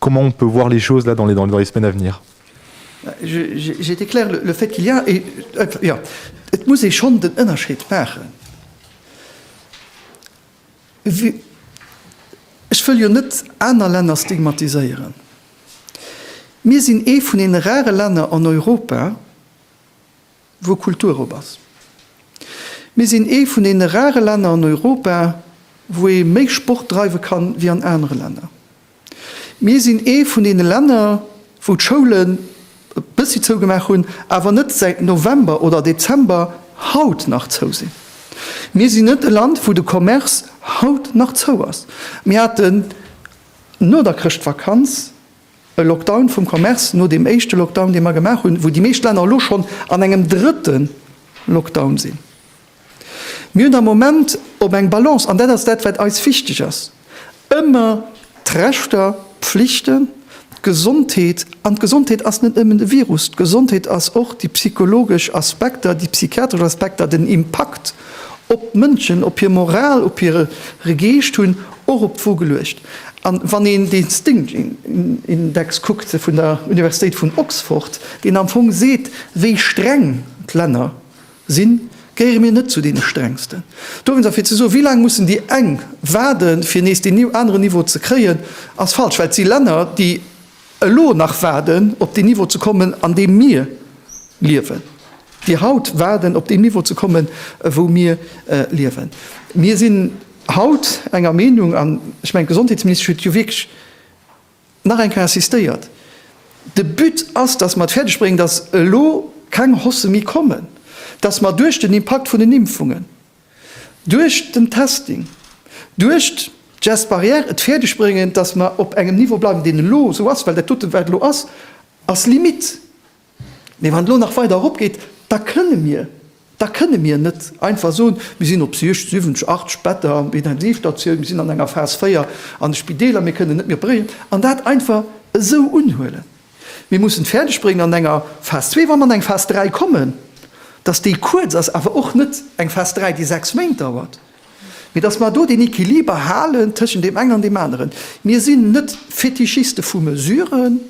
Comment on peut voir les choses là dans les dans les semaines à venir? J'ai été clair, le fait qu'il y a, jo, et muss ee schonn den Ënnerscheed maachen. Ech wëll jo net aner Länner stigmatiséieren. Mir sinn ee vun deene rare Länner an Europa, wou Kultur op ass. Mir sinn ee vun deene rare Länner an Europa, wou ee méi Sport dreiwe kann, wéi an anere Länner. Mir sinn ee vun deene Länner, wou d'Schoulen e bëssi zougemaach hunn, awer net säit November oder Dezember haut nach zou sinn. Mir sinn net e Land, wou de Commerce haut nach zou ass. Mir haten no der Chrëschtvakanz e Lockdown vum Commerce, no deem éischte Lockdown, dee mer gemaach hunn, wou déi meescht Länner elo schonn an engem drëtte Lockdown sinn. Mir hunn am Moment op eng Balance, an dat ass dat, wat eis wichteg ass, ëmmer d'Rechter, d'Pflichten, d'Gesondheet, an d'Gesondheet ass net nëmmen de Virus, d'Gesondheet ass och déi psychologesch Aspekter, déi psychiatresch Aspekter, den Impakt op d'Mënschen, op hir Moral, op hire Geescht hunn och op d'Wo geluecht. An wann een dee Sting-Index kuckt vun der Universitéit vun Oxford, deen am Fong seet, wéi streng d'Länner, Sinn, gehéiere mir net zu deene strengsten. Dowéinst, a fir ze soen, wéi laang mussen déi eng waarden, fir nees deen aneren Niveau ze kréien, ass falsch, well et si Länner, déi elo nach waarden, op deen Niveau ze kommen, an deem mir liewen, déi haut waarden, op deen Niveau ze kommen, wou mir liewen. Mir sinn haut enger Meenung, an ech mengen, d'Gesondheetsministesch huet jo wierklech Nach eng Kéier insistéiert, De But ass, dass mer et fäerdeg bréngen, dass elo keng Hosse méi kommen, dass mer duerch den Impakt vun den Impfungen, duerch den Testing, duerch d'Gestes barrières et fäerdeg bréngen, dass mer op engem Niveau bleiwen, deen elo esou ass, well dat dote wat elo ass, ass Limite. Mee wann et elo nach weider erop geet, da kënne mir, da kënne mir net einfach soen, mir sinn op 60, 70, 80 Better an Intensivstatioun, mir sinn an enger Phas 4 an de Spideeler, mir kënnen net méi opéréieren an dat einfach esou unhuelen. Mir mussen et fäerdeg bréngen an enger Phas 2, wa mer an eng Phas 3 kommen, dass déi kuerz ass, awer och net eng Phas 3, déi sechs Méint dauert, mee dass mer do deen Equiliber halen tëschent deem engen an deem aneren. Mir sinn net Fetischiste vu Mesuren.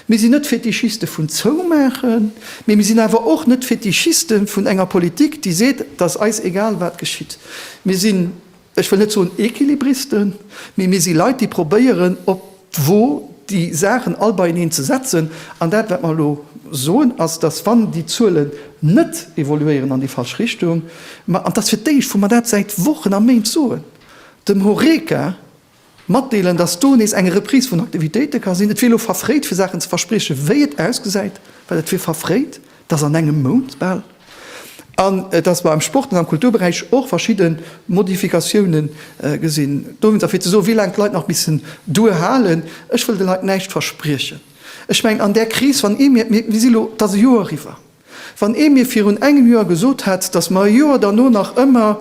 Mir sinn net Fetischiste vun Zoumaachen, mee mir sinn awer och net Fetischiste vun enger Politik, déi seet, et ass eis egal, wat geschitt. Mir sinn, ech wëll net soen Equilibristen, mee mir si Leit, déi probéieren, op d'Wo déi Saachen all beieneen ze setzen. An dat, wat mer elo soen, ass, dass, wann déi Zuelen net evoluéieren an déi falsch Richtung, mer, an et ass fir d'éischt, wou mer dat säit Wochen a Méint soen, dem Horeca, Matdeelen, dass do nees eng Reprise vun Aktivitéite ka sinn. Et wier elo verfréit, fir Saachen ze verspriechen, wéi et ausgesäit, well et wier verfréit, dass an engem Mount bal, an dass mer am Sport an am Kulturberäich och verschidde Modifikatioune gesinn dowéinst. A fir ze soen, wéi laang d'Leit nach missen duerhalen, ech wëll de Leit näischt verspriechen. Ech mengen, an där Kris, wann ee mierkt, mir si elo, et ass e Joer eriwwer, Wann ee mir virun engem Joer gesot hätt, datt mer e Joer derno nach ëmmer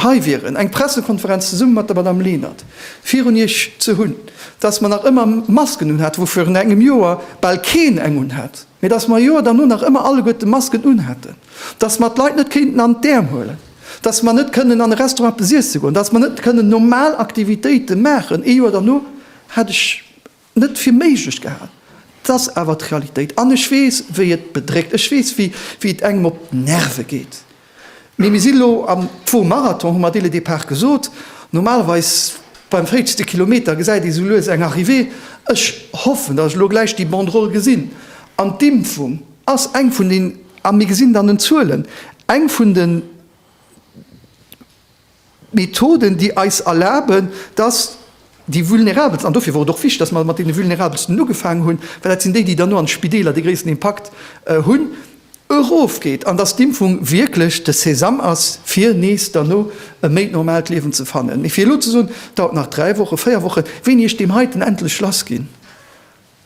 hei wieren, eng Pressekonferenz zesumme mat der Madame Lenert virun Iech ze hunn, datt mer nach ëmmer Masken unhate wou virun engem Joer bal keen eng unhat, mä datt mer e Joer derno nach ëmmer alleguerte Masken unhätten, datt mer d'Leit net kéinten an d'Äerm huelen, datt mer net kënnen an e Restaurant eppes iesse goen, datt mer net kënnen normal Aktivitéite maachen, ee Joer derno hätt ech net fir méiglech gehal. Et ass awer d'Realitéit an ech weess, wéi et bedréckt, ech weess, wéi et engem op d'Nerve geet. Mee mir si elo am Tour Marathon, hu mer dès le départ gesot. Normalerweis beim fréitste Kilometer gesäit ee sou lues eng Arrivée. Ech hoffen, datt ech elo gläich déi Banderole gesinn. An d'Impfung ass eng vun den, a mir gesinn et an den Zuelen, eng vun de. Methoden, déi eis erlaben, dass déi Vulnerabelsten, an dofir wor et och wichtig, dass mer mat deene Vulnerabelsten ugefaangen hunn, well dat sinn déi, déi dann no an d'Spideeler dee gréissten Impakt hunn, erofgeet an dass d'Impfung wierklech de Sesam ass, fir nees derno e méi normalt Liewen ze fannen. Mee fir elo ze soen, dauert nach dräi Wochen, véier Wochen, wéini ech deem heiten endlech lassginn,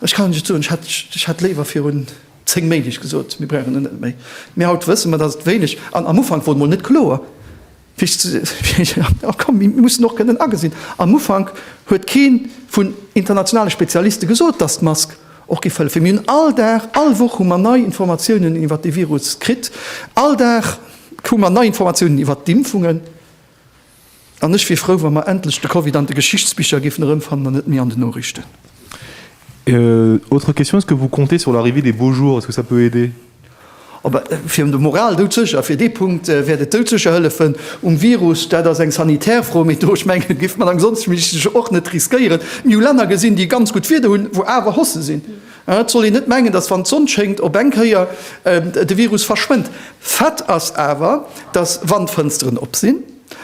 Ech kann just soen, ech hätt léiwer virun 10 Méint iech gesot, mir brauchen en net méi. Mee haut wësse mer, datt et wéineg an am Ufank wor et mol net kloer, wéi ech ze. A komm, mir mussen och kënnen agesinn, am Ufank huet kee vun internationale Spezialiste gesot, datt d'Mask och géif hëllefen. Mir hunn all Dag, all Woch hu mer nei Informatiounen iwwert dee Virus kritt, all Dag hu mer nei Informatiounen iwwert d'Impfungen. An ech wier frou, wa mer endlech de Covid an de Geschichtsbicher géifen erëmfannen an net méi an den Noriichten. Autre question, est-ce que vous comptez sur l'arrivée des beaux jours, est-ce que ça peut aider? Fir un der Moral doudsécher, fir dee Punkt wäert et doudsécher hëllefen. Um Virus, dat ass eng sanitär Fro, mee do, ech mengen, géife mer am Gesondheitsministersch och net riskéieren. Mir hu Länner gesinn, déi ganz gutt Wieder hunn, wou awer Hosse sinn. Et soll een net mengen, datt wann d'Sonn schéngt op eng Kéier de Virus verschwënnt. Fait ass awer, datt wann d'Fënsteren op sinn,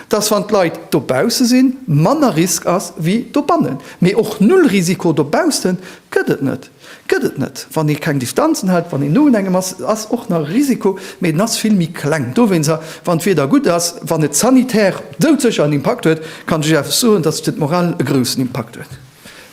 datt wann d'Leit dobausse sinn, manner Risk ass wéi dobannen. Mee och Null Risiko dobausse gëtt et net. Gëtt et net. Wann ee keng Distanzen hält, wann een no unengem ass, ass och nach Risiko, mee den ass vill méi kleng. Dowéinst a wann d'Wieder gutt ass, wann et sanitär doudsécher en Impakt huet, kann ech Iech awer soen, datt et fir d'Moral e groussen Impakt huet.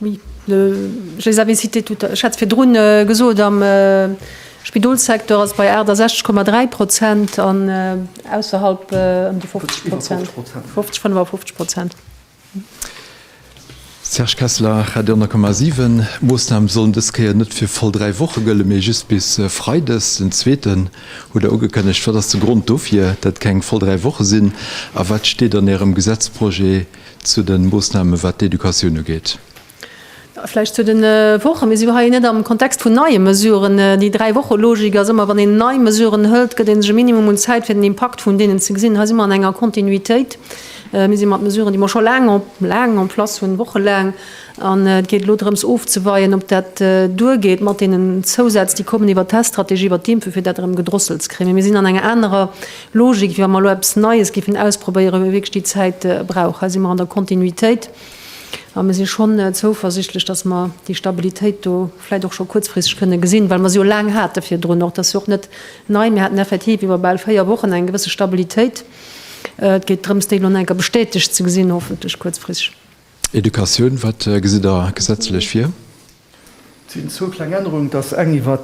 Oui, je les avais cités tout à. Ech hat se virdrun gesot, am Spidolssecteur ass et bei 68,3 Prozent an ausserhalb ëm déi 50 Prozent, 50, 55 Prozent. Serge Kessler, Radio 10,7. D'Moossname sollen dës Kéier net fir voll dräi Woche gëllen, mee just bis freides den zweeten, hutt Der ugekënnegt. Wat ass de Grond dofir, dat keng voll dräi Woche sinn a wat steet an Ärem Gesetzprojet, Zu de Moossnamen, wat d'Educatioun ugeet. Vläicht zu de Wochen. Mir si jo hei net am Kontext vun neie Mesuren. Déi Dräi-Woche-Logik ass ëmmer, wann een nei Mesuren hëlt, gëtt ee sech e Minimum un Zäit, fir den Impakt vun deenen ze gesinn. Hei si mer an enger Kontinuitéit. Mir si mat Mesuren, déi mer scho laang, laang en place hunn, wochelaang. An et geet elo drëms ofzeweien, ob dat duergeet mat deenen Zousätz, déi kommen iwwert d'Test-Strategie, iwwert d'Impfe, fir dat erëm gedrosselt ze kréien. Mee mir sinn an enger anerer. Logik, wa mer elo eppes Neies géifen ausprobéieren, wou mir wierklech déi Zäit brauchen. Hei si mer an der Kontinuitéit a mir si schonn zouversichtlech, dass mer déi Stabilitéit do vläicht och scho kuerzfristeg kënne gesinn, well mer se jo laang hate virdrun och. Dat ass jo och net nei. Mir haten effektiv iwwer bal véier Wochen eng gewësse Stabilitéit. Et geet drëms, déi elo nach eng Kéier bestätegt ze gesinn, hoffentlech kuerzfristeg. Educatioun, Wat gesitt Der gesetzlech vir? Et sinn zwou kleng Ännerungen, dass eng iwwer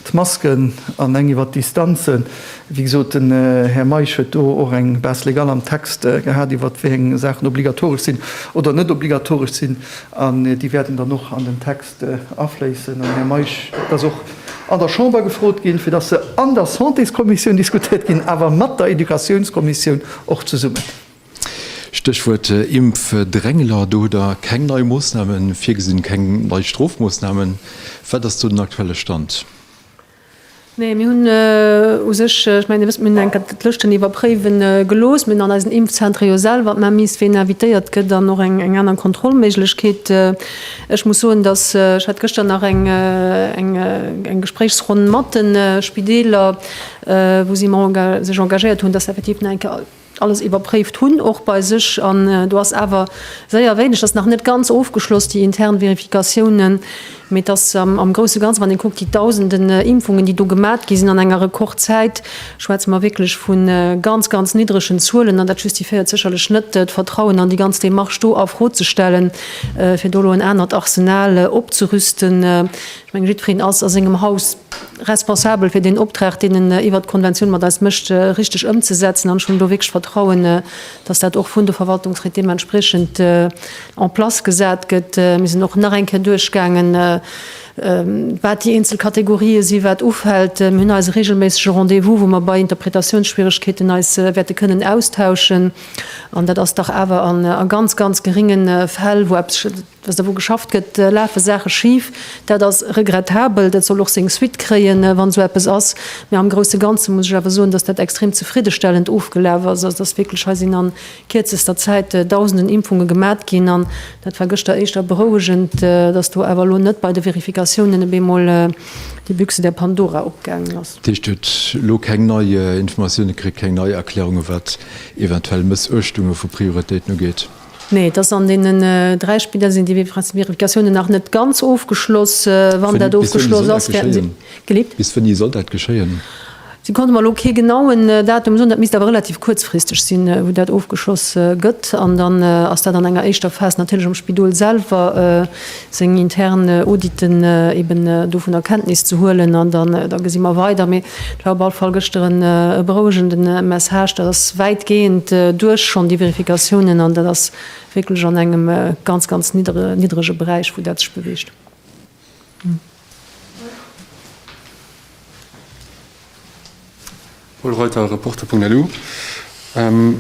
d'Masken an eng iwwer d'Distanzen. Wéi gesot, den Här Meisch huet do och eng Base légale am Text gehat, iwwer wéi eng Saachen obligatoresch sinn oder net obligatoresch sinn. An déi wäerten dann och an den Text afléissen. An, Här Meisch, et ass och an der Chamber gefrot ginn, fir dass se an der Santéskommissioun diskutiert ginn, awer mat der Éducatiounskommissioun och zesummen. Stéchwuert Impfdrängler, do hutt Der keng nei Moossname virgesinn, keng nei Strofmoossnamen. Wat ass do den aktuelle Stand? Nee, mir hunn u sech, ech mengen Dir wësst, mir hunn enker d'Lëschten iwwerpréiwe gelooss. Mir hunn an eisen Impfzentere jo selwer d'Maimise, ween invitéiert gëtt an och eng aner Kontrollméiglechkeet. Ech muss soen, datt, ech hat gëschter nach eng Gespréichsronn mat de Spideeler, wou si sech engagéiert hunn, datt se effektiv nach enker alles iwwerpréift hunn, och bei sech, an do ass awer séier wéineg, dat ass nach net ganz ofgeschloss, déi intern Vérificatiounen, mee et ass am grousse Ganze, wann ee kuckt, déi Dausenden Impfungen, déi do gemat gi sinn an enger Rekordzäit, schwätze mer wierklech vu ganz, ganz niddregen Zuelen. An dat justifiéiert sécherlech net, d'Vertrauen an déi ganz Demarche do a Fro ze stellen, fir do elo en anert Arsenal opzerüsten. Ech mengen, jiddwereen ass a sengem Haus responsabel fir deen Optrag, deen en iwwert d'Konventioun mat eis mécht, richteg ëmzesetzen. An ech hunn do wierklech Vertrauen, dass dat och vun de Verwaltungsried deementspriechend en place gesat gëtt. Mir sinn och nach eng Kéier duerchgaangen, wat déi eenzel Kategorië si wat ufält. Mir hunn eise reegelméissege Rendez-vous, wou mer bei Interpretatiounsschwieregkeeten eis wäerte kënnen austauschen. An dat ass dach awer a ganz, ganz gerénge Fäll, wou eppes, Wësst Der, wou geschafft gëtt, lafe Saache schif. Dat ass regrettabel. Dat soll och seng Suite kréien, wann esou eppes ass. Mä am grousse Ganze muss ech awer soen, dass dat extrem zefriddestellend ofgelaf ass. Also, dass wierklech hei sinn a kierzester Zäit Dausenden Impfunge gemat ginn. An dat war gëschter éischter berouegend, dass do awer elo net bei de Verifikatiounen op eemol déi Büchse der Pandora opgaangen ass. Dat heescht, Dir hutt elo keng nei Informatiounen kritt, keng nei Erklärungen, wat eventuell Mëssuechtunge vu Prioritéiten ugeet? Nee, et ass an deenen dräi Spidder sinn déi Vérificatiounen nach net ganz ofgeschloss. Wann dat ofgeschloss ass, wäerten se geleet. Bis wéini soll dat geschéien? Si konnte mer elo kee genauen Datum soen. Dat misst awer relativ kuerzfristeg sinn, wou dat ofgeschloss gëtt. An dann ass dat an enger éischter Phas natierlech am Spidol selwer. seng intern Auditen eben dovunner Kenntnis ze huelen an dann da gesi mer weider. Mee et war op alle Fall gëschter en e berouegende Message. Dat ass wäitgehend duerch schonn, déi Vérificatiounen, an dat ass wierklech an engem ganz, ganz niddrege Beräich, wou dat sech beweegt. Paul Reuter, Reporter.lu,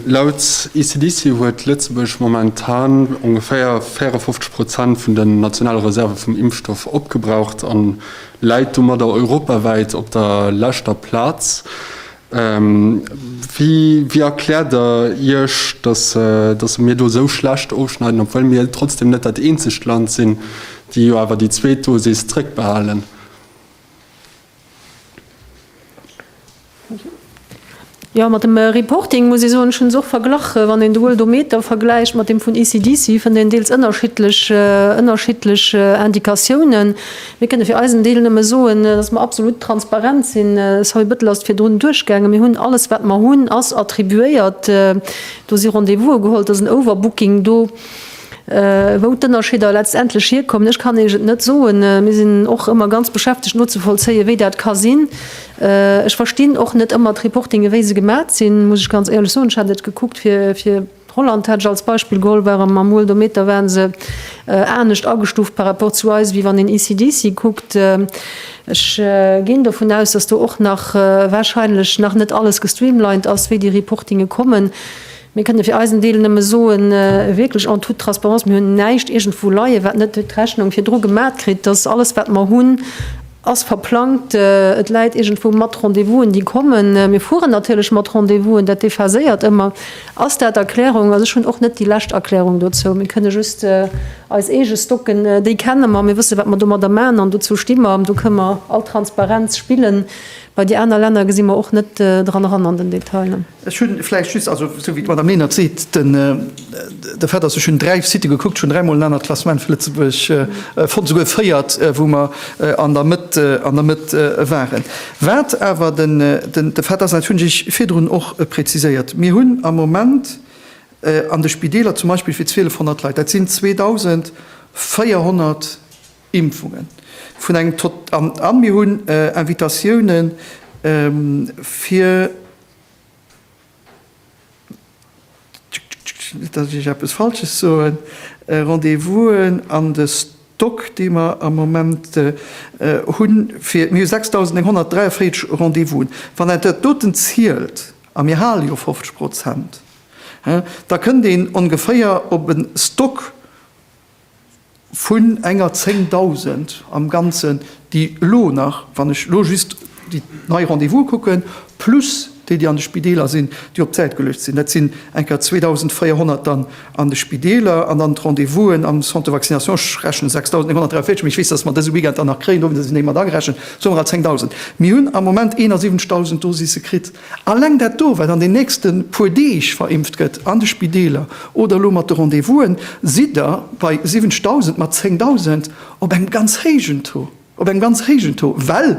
Laut ECDC huet Lëtzebuerg momentan ongeféier 54 Prozent vun den nationale Reserve vum Impfstoff opgebraucht a läit domadder europawäit op der leschter Plaz. Wéi erkläert der Iech, datt se mir do esou schlecht ofschneiden, obwuel mir trotzdem net dat eenzegt Land sinn, déi jo awer déi zweet Dosis zréckbehalen? Jo, mat dem Reporting muss ee soen, ech hunn se och verglach, wann een de Worldometer vergläicht mat deem vun ECDC, fënnt een deels ënnerschiddlech Indikatiounen. Mir kënne fir eisen Deel nëmme soen, dass mer absolut transparent sinn. Sorry, Bëttel ass et virdrun duerchgaangen. Mir hunn alles, wat mer hunn, ass attribuéiert. Do si Rendez-vouse geholl, et ass en Overbooking do. Wou d'Ënnerscheeder letztendlech hierkommen, ech kann Iech et net soen. Mir sinn och ëmmer ganz beschäftegt nozevollzéien, wéi dat ka sinn. Ech verstinn och net ëmmer d'Reportinge wéi se gemat sinn, muss ech ganz éierlech soen. Ech hat et gekuckt fir, fir. Holland hätt ech als Beispill geholl, ware mer mol domidd, da waren se anescht agestuuft par rapport zu eis, wéi wann een ECDC kuckt. Ech ginn dovun aus, dass do och nach wahrscheinlech nach net alles gestreamlined ass, wéi déi Reportinge kommen. Mir kënne fir eisen Deel nëmme soen, wierklech en toute transparence, mir hunn näischt iergendwou leie wat net d'Rechnung virdru gemat kritt, dass alles wat mer hunn, Ass verplangt. Et läit iergendwou mat Rendez-vousen, déi kommen. Mir fueren natierlech mat Rendez-vousen, dat déphaséiert ëmmer. Ass dat Erklärung? Also ech hunn och net déi lescht Erklärung dozou. Mir kënne just eis eege stocken. Déi kenne mer. Mir wësse wat mer domadder maachen an dozou sti mer. Do kënne mer all Transparenz spillen. Bei déi aner Länner gesi mer och net dran eran an den Detailen. Ech hunn vläicht just, also esou wéi d'Madame Lenert seet, de Fait ass, ech hunn dräi Site gekuckt, ech hunn dräimol en anert Klassement fir Lëtzebuerg fonnt, souguer véiert, wou mer an der Mëtt, an der Mëtt waren. Wat awer de Fait ass, an dat hunn ech virdrun och präziséiert, Mir hunn am Moment an de Spideeler zum Beispill fir 1200 Leit, dat sinn 2400 Impfungen, vun engem, an mir hunn Invitatiounen fir, Net datt ech eppes Falsches soen. Rendez-vousen an de Stock, dee mer am Moment hunn, fir, mir hu 6.943 Rendez-vousen, wann een dat doten zielt, a mir hale jo 50 Prozent, da kënnt een ongeféier op e Stock vun enger 10.000 am Ganzen, déi elo nach, wann ech elo just déi nei Rendez-vuse kucken, plus déi, déi an de Spideeler sinn, déi op d'Säit geluecht sinn, dat sinn eng Kéier 2.400 dann an de Spideeler an dann d'Rendez-vusen am Centre de vaccination, ech rechnen, 6.943, mee ech weess, datt mer dëse Weekend dann nach kréien, do hunn se se néi mat agerechent, soe mer al 10.000. Mir hunn am Moment 71.000 Dosisse kritt Alleng dat do, wat an den nächste puer Deeg verimpft gëtt an de Spideeler oder elo mat de Rendez-vousen, sidd Der bei 70.000 mat 10.000 op engem ganz héijen Taux, op engem ganz héijen Taux, well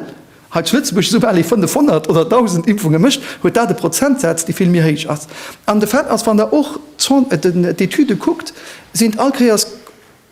hei zu Lëtzebuerg soubal ee 500 oder 1.000 Impfunge mécht, huet dat e Prozentsaz, dee vill méi héich ass. An de Fait ass, wann Der och d'Cent, d'Etüde kuckt, sinn all Kéiers,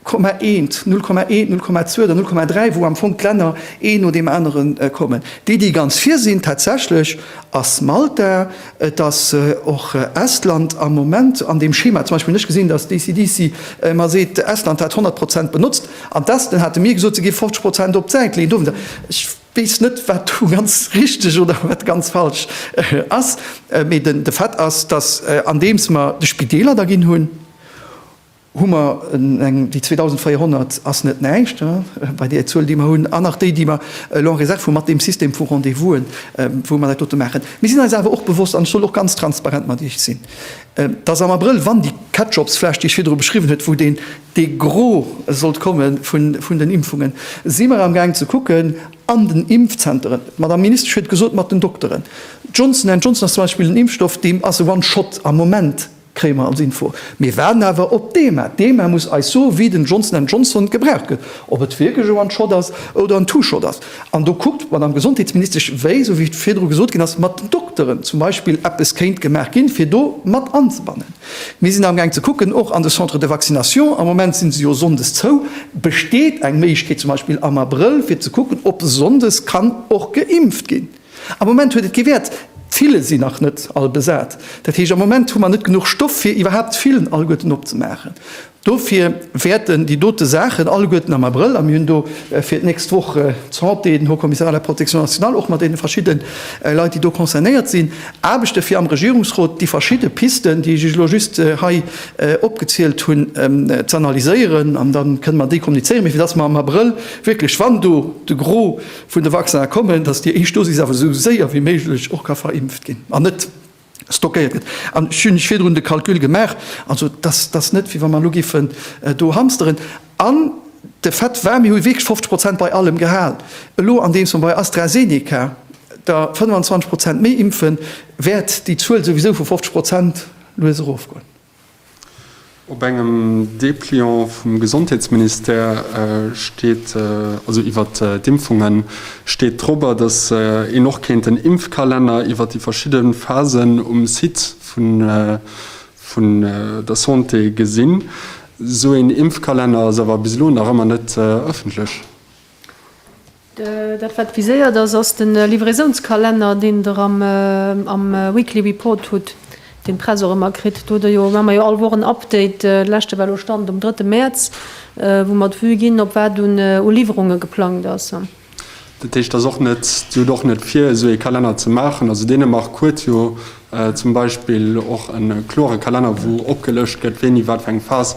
Komma eent, null Komma eent, null Komma zwou oder null Komma dräi, wou am Fong d'Länner een no deem anere kommen. Déi, déi ganz vir sinn, tatsächlech ass Malta, et ass och Estland am Moment an deem Schema zum Beispill. Ech gesinn, dass d'ECDC mer seet, Estland hätt 100 Prozent benotzt, an d'Esten hate mir gesot, se géif 50 Prozent op d'Säit leeën dowéinst. Ech weess net, wat do ganz richteg oder wat ganz falsch ass, mee de Fait ass, dass andeems mer de Spideeler da ginn hunn, hu mer eng, déi 2.400 ass net näischt bei där Zuel, déi mer hunn, an nach déi, déi mer elo en Reserve hu mat deem System vu Rendez-vousen, wou mer dat dote maachen. Mir sinn eis awer och bewosst, an ech soll och ganz transparent mat Iech sinn, dass am Abrëll, wann déi Ketchupsfläsch, déi ech virdru beschriwwen huet, wou deen de gros sollt komme vun den Impfungen, si mer amgaang ze kucken an den Impfzenteren, d'Madame Ministesch huet gesot, mat den Dokteren, Johnson and Johnson ass zum Beispill en Impfstoff, deem ass e One-shot am Moment, Kréie mer als Info. Mir waarden awer op d'EMA. D'EMA muss eis soen, wéi den Johnson and Johnson gebraucht gëtt, ob et wierklech e One-Shot ass oder en Two-Shot ass. An do kuckt d'Madame Gesondheetsministesch, wéi, esou wéi virdru gesot ginn ass, mat den Dokteren zum Beispill eppes kéint gemaach ginn, fir do mat anzebannen. Mir sinn amgaang ze kucken, och an de Centres de vaccination, am Moment si se jo sonndes zou, besteet eng Méiglechkeet zum Beispill am Abrëll, fir ze kucken, ob sonndes kann och geimpft ginn. Am Moment huet et kee Wäert. D'Fillen sinn nach net all besat. Dat heescht, am Moment hu mer net genuch Stoff, fir iwwerhaapt d'Fillen alleguerten opzemaachen. Dofir wäerten déi dote Saachen alleguerten am Abrëll, a mir hunn do fir d'nächst Woch d'Santé, den Haut Commissariat à la Protection nationale, och mat deene verschidde Leit, déi do concernéiert sinn, Aarbechte fir am Regierungsrot déi verschidde Pisten, déi ech Iech elo just hei opgezielt hunn, z'analyséieren. An da kënnen mer déi kommunizéieren. Mee fir dass mer am Abrëll wierklech, wann do de Gros, vun de Vaccine kommen, dass déi éischt Dosis awer esou séier wéi méiglech och ka verimpft ginn an net stockéiert gëtt. An ech hunn iech virdrun de Calcul gemaach, also dass dass net wéi wa mer elo géifen do hamsteren. An de Fait war, mir hu wierklech 50 Prozent bei allem gehal. Elo andeems mer bei AstraZeneca der 25 Prozent méi impfen, wäert déi Zuel souwisou vu 50 Prozent lues erofgoen. Op engem Depliant vum Gesondheetsministère steet, also iwwer d'Impfungen, steet dorobber, datt een och kéint den Impfkalenner iwwer déi verschidde Phasen um Site vun der Santé gesinn. Esou een Impfkalenner ass awer bis elo nach ëmmer net ëffentlech. Dat wat viséiert ass, ass de Livraisonskalenner, deen Der am Weekly Report hutt, deen d'Press och ëmmer kritt. Do hu mer jo all Woch en Update. De leschte war elo, Stand um drëtte Mäerz, wou mer d'Vue ginn, op wat un Liwwerunge geplangt ass. Dat heescht, et ass och net, Dir hutt och net vir, esou ee Kalenner ze maachen. Also Dänemark huet jo zum Beispill och e klore Kalenner, wou opgelëscht gëtt, wéini wat fir eng Phas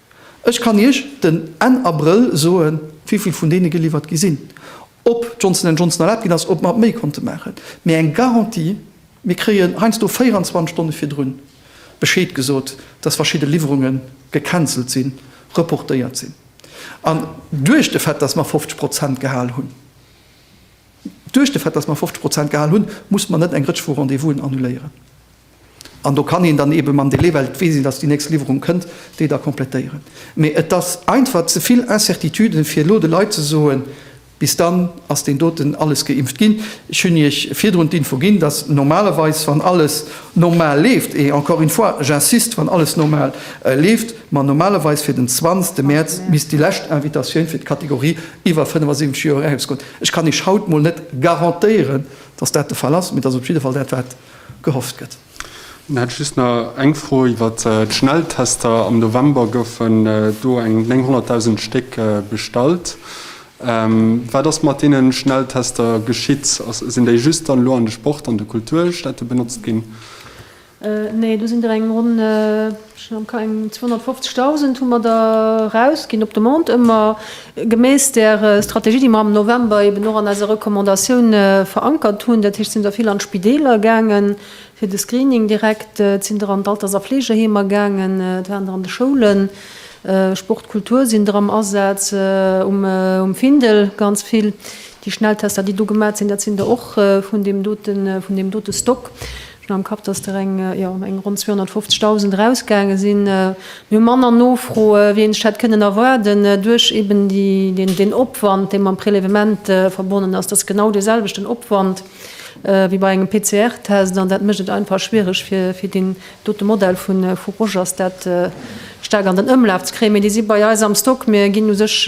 Ech kann Iech den Enn Abrëll soe wivill vun deene geliwwert gi sinn, ob Johnson and Johnson erlaabt ginn ass, ob mer méi konnte maachen. Mee eng Garantie, mir kréien heiansdo 24 Stonne virdrun Bescheed gesot, datt verschidde Liwwerunge gecancelt sinn, reportéiert sinn. An duerch de Fait, datt mer 50 Prozent gehal hunn, duerch de Fait, datt mer 50 Prozent gehal hunn, muss mer net eng Rëtsch vu Rendez-vousen annuléieren. An do kann een dann eebe mam Delai, well et weess een, datt déi nächst Liwwerung kënnt, déi da komplettéieren. Mee et ass einfach ze vill Incertituden, fir elo de Leit ze soen, bis dann ass deen doten alles geimpft ginn. Ech hunn Iech virdrun d'Info ginn, datt normalerweis, wann alles normal leeft, et encore une fois, j'insiste, wann alles normal leeft, mer normalerweis fir den 20 Mäerz misst déi lescht Invitatioun fir d'Kategorie iwwer 75 Joer erausgoen. Ech kann Iech haut mol net garantéieren, datt dat de Fall ass, mee et ass op jidde Fall dat, wat. gehofft gëtt. Dann hätt ech just nach eng Fro iwwer d'Schnelltester. Am November goufen do eng 900.000 Stéck bestallt. Wat ass mat deene Schnelltester geschitt? Sinn déi just dann elo an de Sport an de Kulturstätte benotzt ginn? Nee, do sinn der eng ronn. Ech mengen eng 250.000 hu mer der erausginn op Demande, ëmmer gemäss där Strategie, déi mer am November eben och an eiser Recommandatioun verankert hunn. Dat heescht, et sinn der vill an d'Spideeler gaangen fir de Screening direkt, et sinn der an d'Alters a Fleegeheemer gaangen, et waren der an de Schoulen, Sport, Kultur sinn der am Asaz, um Findel ganz vill. Déi Schnelltester, déi do gemat sinn, dat sinn der och vun deem dote Stock. Hun am Kapp dass der eng jo eng ronn 250.000 eraus gaange sin. Mir hu manner Nofroe wéi een sech hätt kënnen erwaarden duerch eben déi den Opwand dee mam Prélèvement verbonnen ass. Dat ass genau dee selwechten Opwand wéi bei engem PCR Test an dat mécht et einfach schwiereg fir deen dote Modell vu Rogers dat staark an den Ëmlaf ze kréien. Mee déi si bei eis am Stock. Mir ginn u sech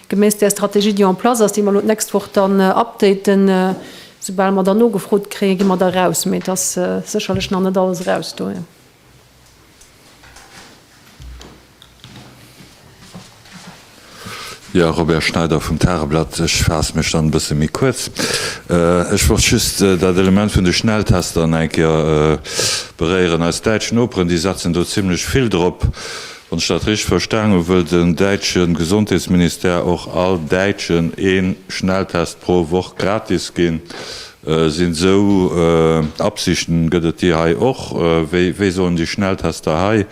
geméiss där Strategie déi en place ass, déi mer elo d'nächst Woch dann updaten, Soubal mer da nogefrot kréien, gi mer da eraus. Mee et ass sécherlech nach net alles eraus do. Jo, Robert Schneider vum Tageblatt. Ech faasse mech dann e bësse méi kuerz. Ech wollt just dat Element vun de Schnelltester nach eng Kéier beréieren. Eis däitsch Noperen, déi setzen do zimlech vill drop. Wann ech dat richteg verstanen hunn, wëll den däitsche Gesondheetsministère och all Däitschen ee Schnelltest pro Woch gratis ginn. Sinn esou Absichten, gëtt et déi hei och? Wéi sollen déi Schnelltester hei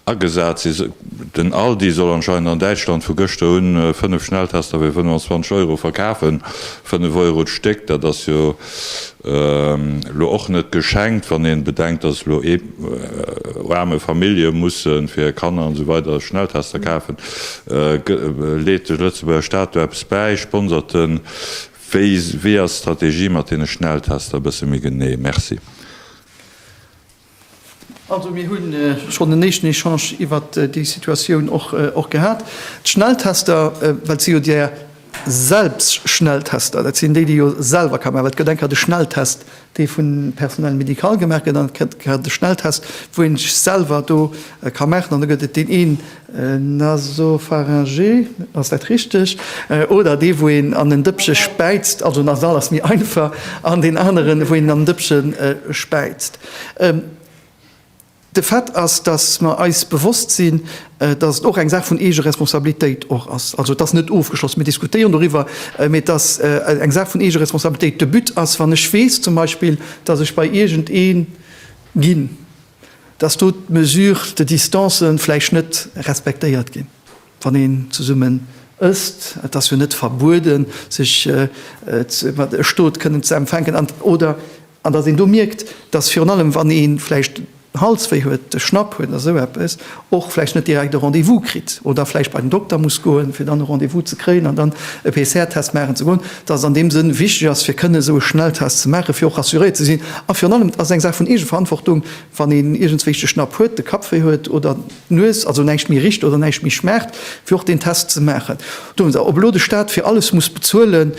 agesat sinn? Den Aldi soll anscheinend an Däitschland vu gëschter un 5 Schnelltester fir 25 Euro verkafen, 5 Euro d'Stéck, dat ass jo Elo och net geschenkt, wann een bedenkt, dass elo aarme Famillje mussen fir hir Kanner an esou weider Schnelltester kafen. Leet de Lëtzebuerger Staat do eppes bäi? Sponsert en? Wéi ass d'Strategie mat deene Schnelltester e bësse méi genee? Merci. Also mir hu schonn en éischten Echange iwwer déi Situatioun och gehat. D'Schnelltester, well et si jo där Selbstschnelltester, dat sinn déi, déi jo selwer ka maachen, well et gëtt eng Kéier de Schnelltest, dee vum Personnel médical gemaach gëtt, an et gëtt eng Kéier de Schnelltest, wou ee sech selwer do ka maachen, an da gëtt et deen een, Nasopharyngé, ass dat richteg? Oder dee wou een an en Dëppche späizt, also nasal ass méi einfach, an deen aneren wou een an en Dëppche späizt. De Fait ass, datt mer eis bewosst sinn, datt et och eng Saach vun Eegeresponsabilitéit och ass, also et ass net ofgeschloss, mir diskutéieren doriwwer, mee et ass eng Saach vun Eegeresponsabilitéit. De But ass, wann ech weess zum Beispill, datt ech bei iergendee ginn, dass do d'Mesures de distance vläicht net respektéiert ginn, wann een zesummen ësst. Et ass jo net verbueden, sech e Stot kënnen ze empfänken an oder an dass een do mierkt, dass virun allem, wann ee vläicht Halswéi huet, de Schnapp huet oder esou eppes och vläicht net direkt e Rendez-vous kritt oder vläicht bei den Dokter muss goen, fir dann e Rendez-vous ze kréien an dann e PCR-Test maachen ze goen, dass et an deem Sënn wichteg ass, fir kënnen esou e Schnelltest ze maachen, fir och rassuréiert ze sinn. A virun allem, et ass eng Saach vun Eegeverantwortung, wann een iergendswéi de Schnapp huet, de Kappwéi huet oder d'Nues, also näischt méi richt oder näischt méi schmaacht, fir och deen Test ze maachen. Do hunn se op elo de Staat fir alles muss bezuelen.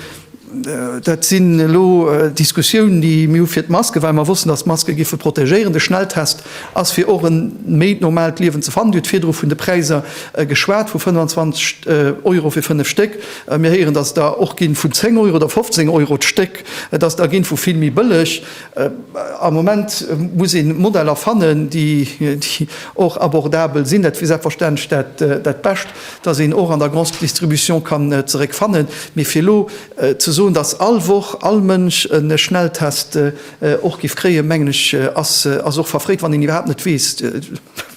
Dat sinn elo Diskussiounen, déi mir hu fir d'Maske, well mer wossten, datt d'Maske géife protegéieren. De Schnelltest ass, fir och e méi normaalt Liewen ze fannen. Dir hutt virdru vun de Präiser geschwat, vu 25 Euro fir fënnef Stéck. Mir héieren, datt der och ginn vun 10 Euro oder 15 Euro d'Stéck, datt der ginn vu vill méi bëlleg. Am Moment muss ee Modeller fannen, déi och abordabel sinn. Dat wier selbstverständlech dat Bescht. dass een och an der Grande Distribution kann zeréck fannen, mee fir elo ze soen, dass all Woch all Mënsch e Schnelltest och giff kréien, mengen ech ass och verfréit, wann een iwwerhaapt net weess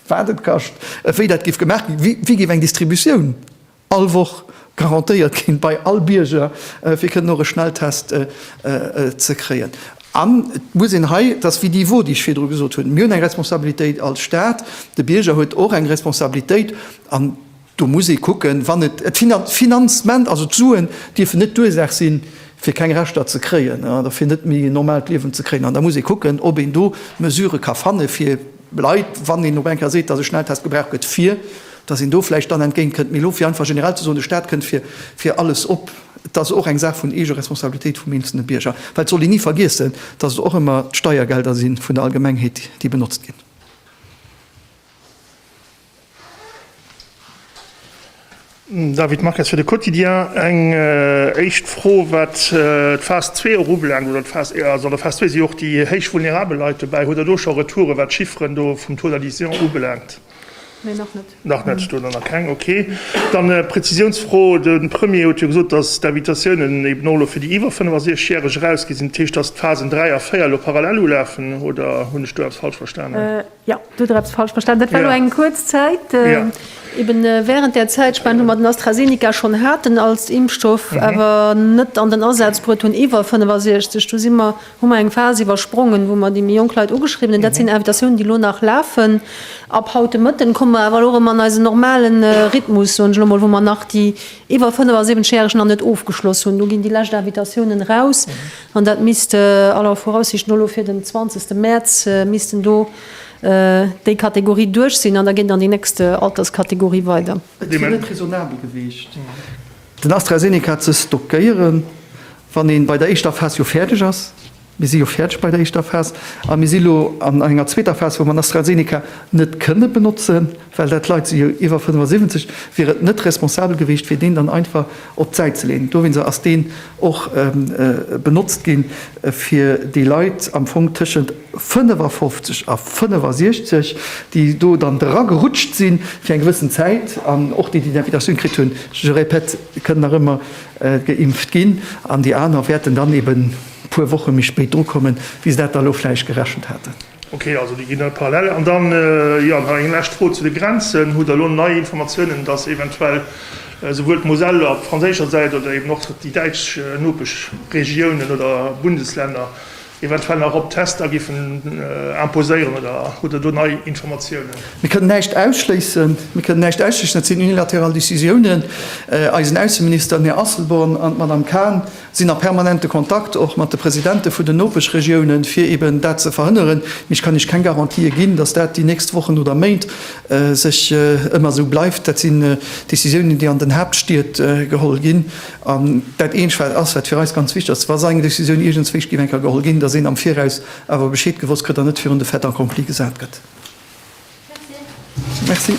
wat et kascht, wéi dat giff gemaach ginn, wéi giff eng Distributioun all Woch garantéiert ginn bei all Bierger fir kënnen och e Schnelltest ze kréien. An et muss een hei, et ass wéi déi Vue déi ech virdru gesot hunn, mir hunn eng Responsabilitéit als Staat, de Bierger huet och eng Responsabilitéit, An do muss ee kucken, wann et d'Finanzement, also d'Suen dierfen net d'Ursaach sinn, fir keng Rechter ze kréien oder fir net méi en normaalt Liewen ze kréien. An da muss ee kucken, ob een do Mesurë ka fanne fir Leit, wann een op eng Kéier seet, dass e Schnelltest gebraucht gëtt, fir dass een do vläicht dann entgéint kënnt. Mee elo fir einfach generell ze soen, de Staat kënnt fir alles op, et ass och eng Saach vun Eegeresponsabilitéit vum eenzelne Bierger. Well et soll een ni vergiessen, dass et och ëmmer d'Steiergelder si vun der Allgemengheet, déi benotzt ginn. David Marques fir de Quotidien. Eng éischt Fro, wat d'Phase zwee och ubelaangt, oder d'Phase, also an der Phase zwee si jo och déi héich vulnerabel Leit dobäi. Huet Der do scho Retouren, wat d'Chifferen do vum Taux d'adhésion ubelaangt? Nee, nach net. Nach net, do nach keng. Okay. Dann e Prezisiounsfro, De Premier huet jo gesot, datt d'Invitatiounen eben och elo fir déi iwwer 65 Järeg erausgi sinn. Dat heescht, datt d'Phasen dräi a véier elo parallel ulafen, oder hunn ech do eppes falsch verstanen? Jo, du huet der eppes falsch verstanen. Dat war elo eng kuerz Zäit. Eben während där Zäitspan, wou mer den AstraZeneca schonn haten als Impfstoff, awer net an den Asaz bruet hunn iwwer 65, do si mer, hu mer eng Phas iwwersprongen, wou mer déi méi jonk Leit ugeschriwwen hunn. Dat sinn Invitatiounen, déi elo nach lafen. Ab haut de Mëtten komme mer awer elo erëm an eisen normale Rhythmus, soen ech elo mol, wou mer nach déi iwwer 75 Järeg nach net ofgeschloss hunn. Do ginn déi lescht Invitatiounen eraus. An dat misst aller Voraussicht no elo fir den 20 Mäerz missten do déi Kategorie duerch sinn an da geet et an déi nächst Alterskategorie weider. Et wier net raisonnabel gewiescht, den AstraZeneca ze stockéiere wann ee bei der éischter Phas jo fäerdeg ass. Mir si jo fäerdeg bei der éischter Phas a mir si elo an enger zweeter Phas, wou mer den AstraZeneca net kënne benotzen. well dat Leit sinn jo iwwer 75, wier et net responsabel gewiescht fir deen dann einfach op d'Säit ze leeën. Dowéinst ass deen och benotzt ginn, fir déi Leit am Fong tëschent 55 a 65, déi do dann dra gerutscht sinn fir eng gewëssen Zäit an och déi, déi d'Invitatioun kritt hunn, je répète, kënnen nach ëmmer geimpft ginn an déi aner wäerten dann eeben e puer Woche méi spéit dru kommen, wéi se dat da elo vläicht gerechent haten. Ok, also déi ginn da parallel. An dann, jo, nach eng lescht Fro zu de Grenzen. Hutt Der elo nei Informatiounen, dass eventuell esouwuel d'Moselle op franséischer Säit oder eben och déi däitsch Nopeschregiounen oder Bundeslänner eventuell nach op Tester giffen imposéieren? Oder hutt Der do nei Informatiounen? Mir kënnen näischt ausschléissen. Mir kënnen näischt ausschléissen. Dat sinn unilateral Décisiounen. Eisen Ausseminister, den Här Asselborn, an d'Madame Cahn sinn a permanente Kontakt och mat de Presidente vun den Nopeschregiounen, fir eben dat ze verhënneren. Mee ech kann Iech keng Garantië ginn, datt dat déi nächst Wochen oder Méint sech ëmmer esou bleift. Dat sinn Decisiounen, déi an den Haaptstied geholl ginn. An dat Eent, ass, wat fir eis ganz wichteg ass, wa esou eng Decisioun iergendswéinst géif eng Kéier geholl ginn, datt een am Viraus awer Bescheed gewosst kritt an net virun de Fait accompli gesat gëtt. Merci.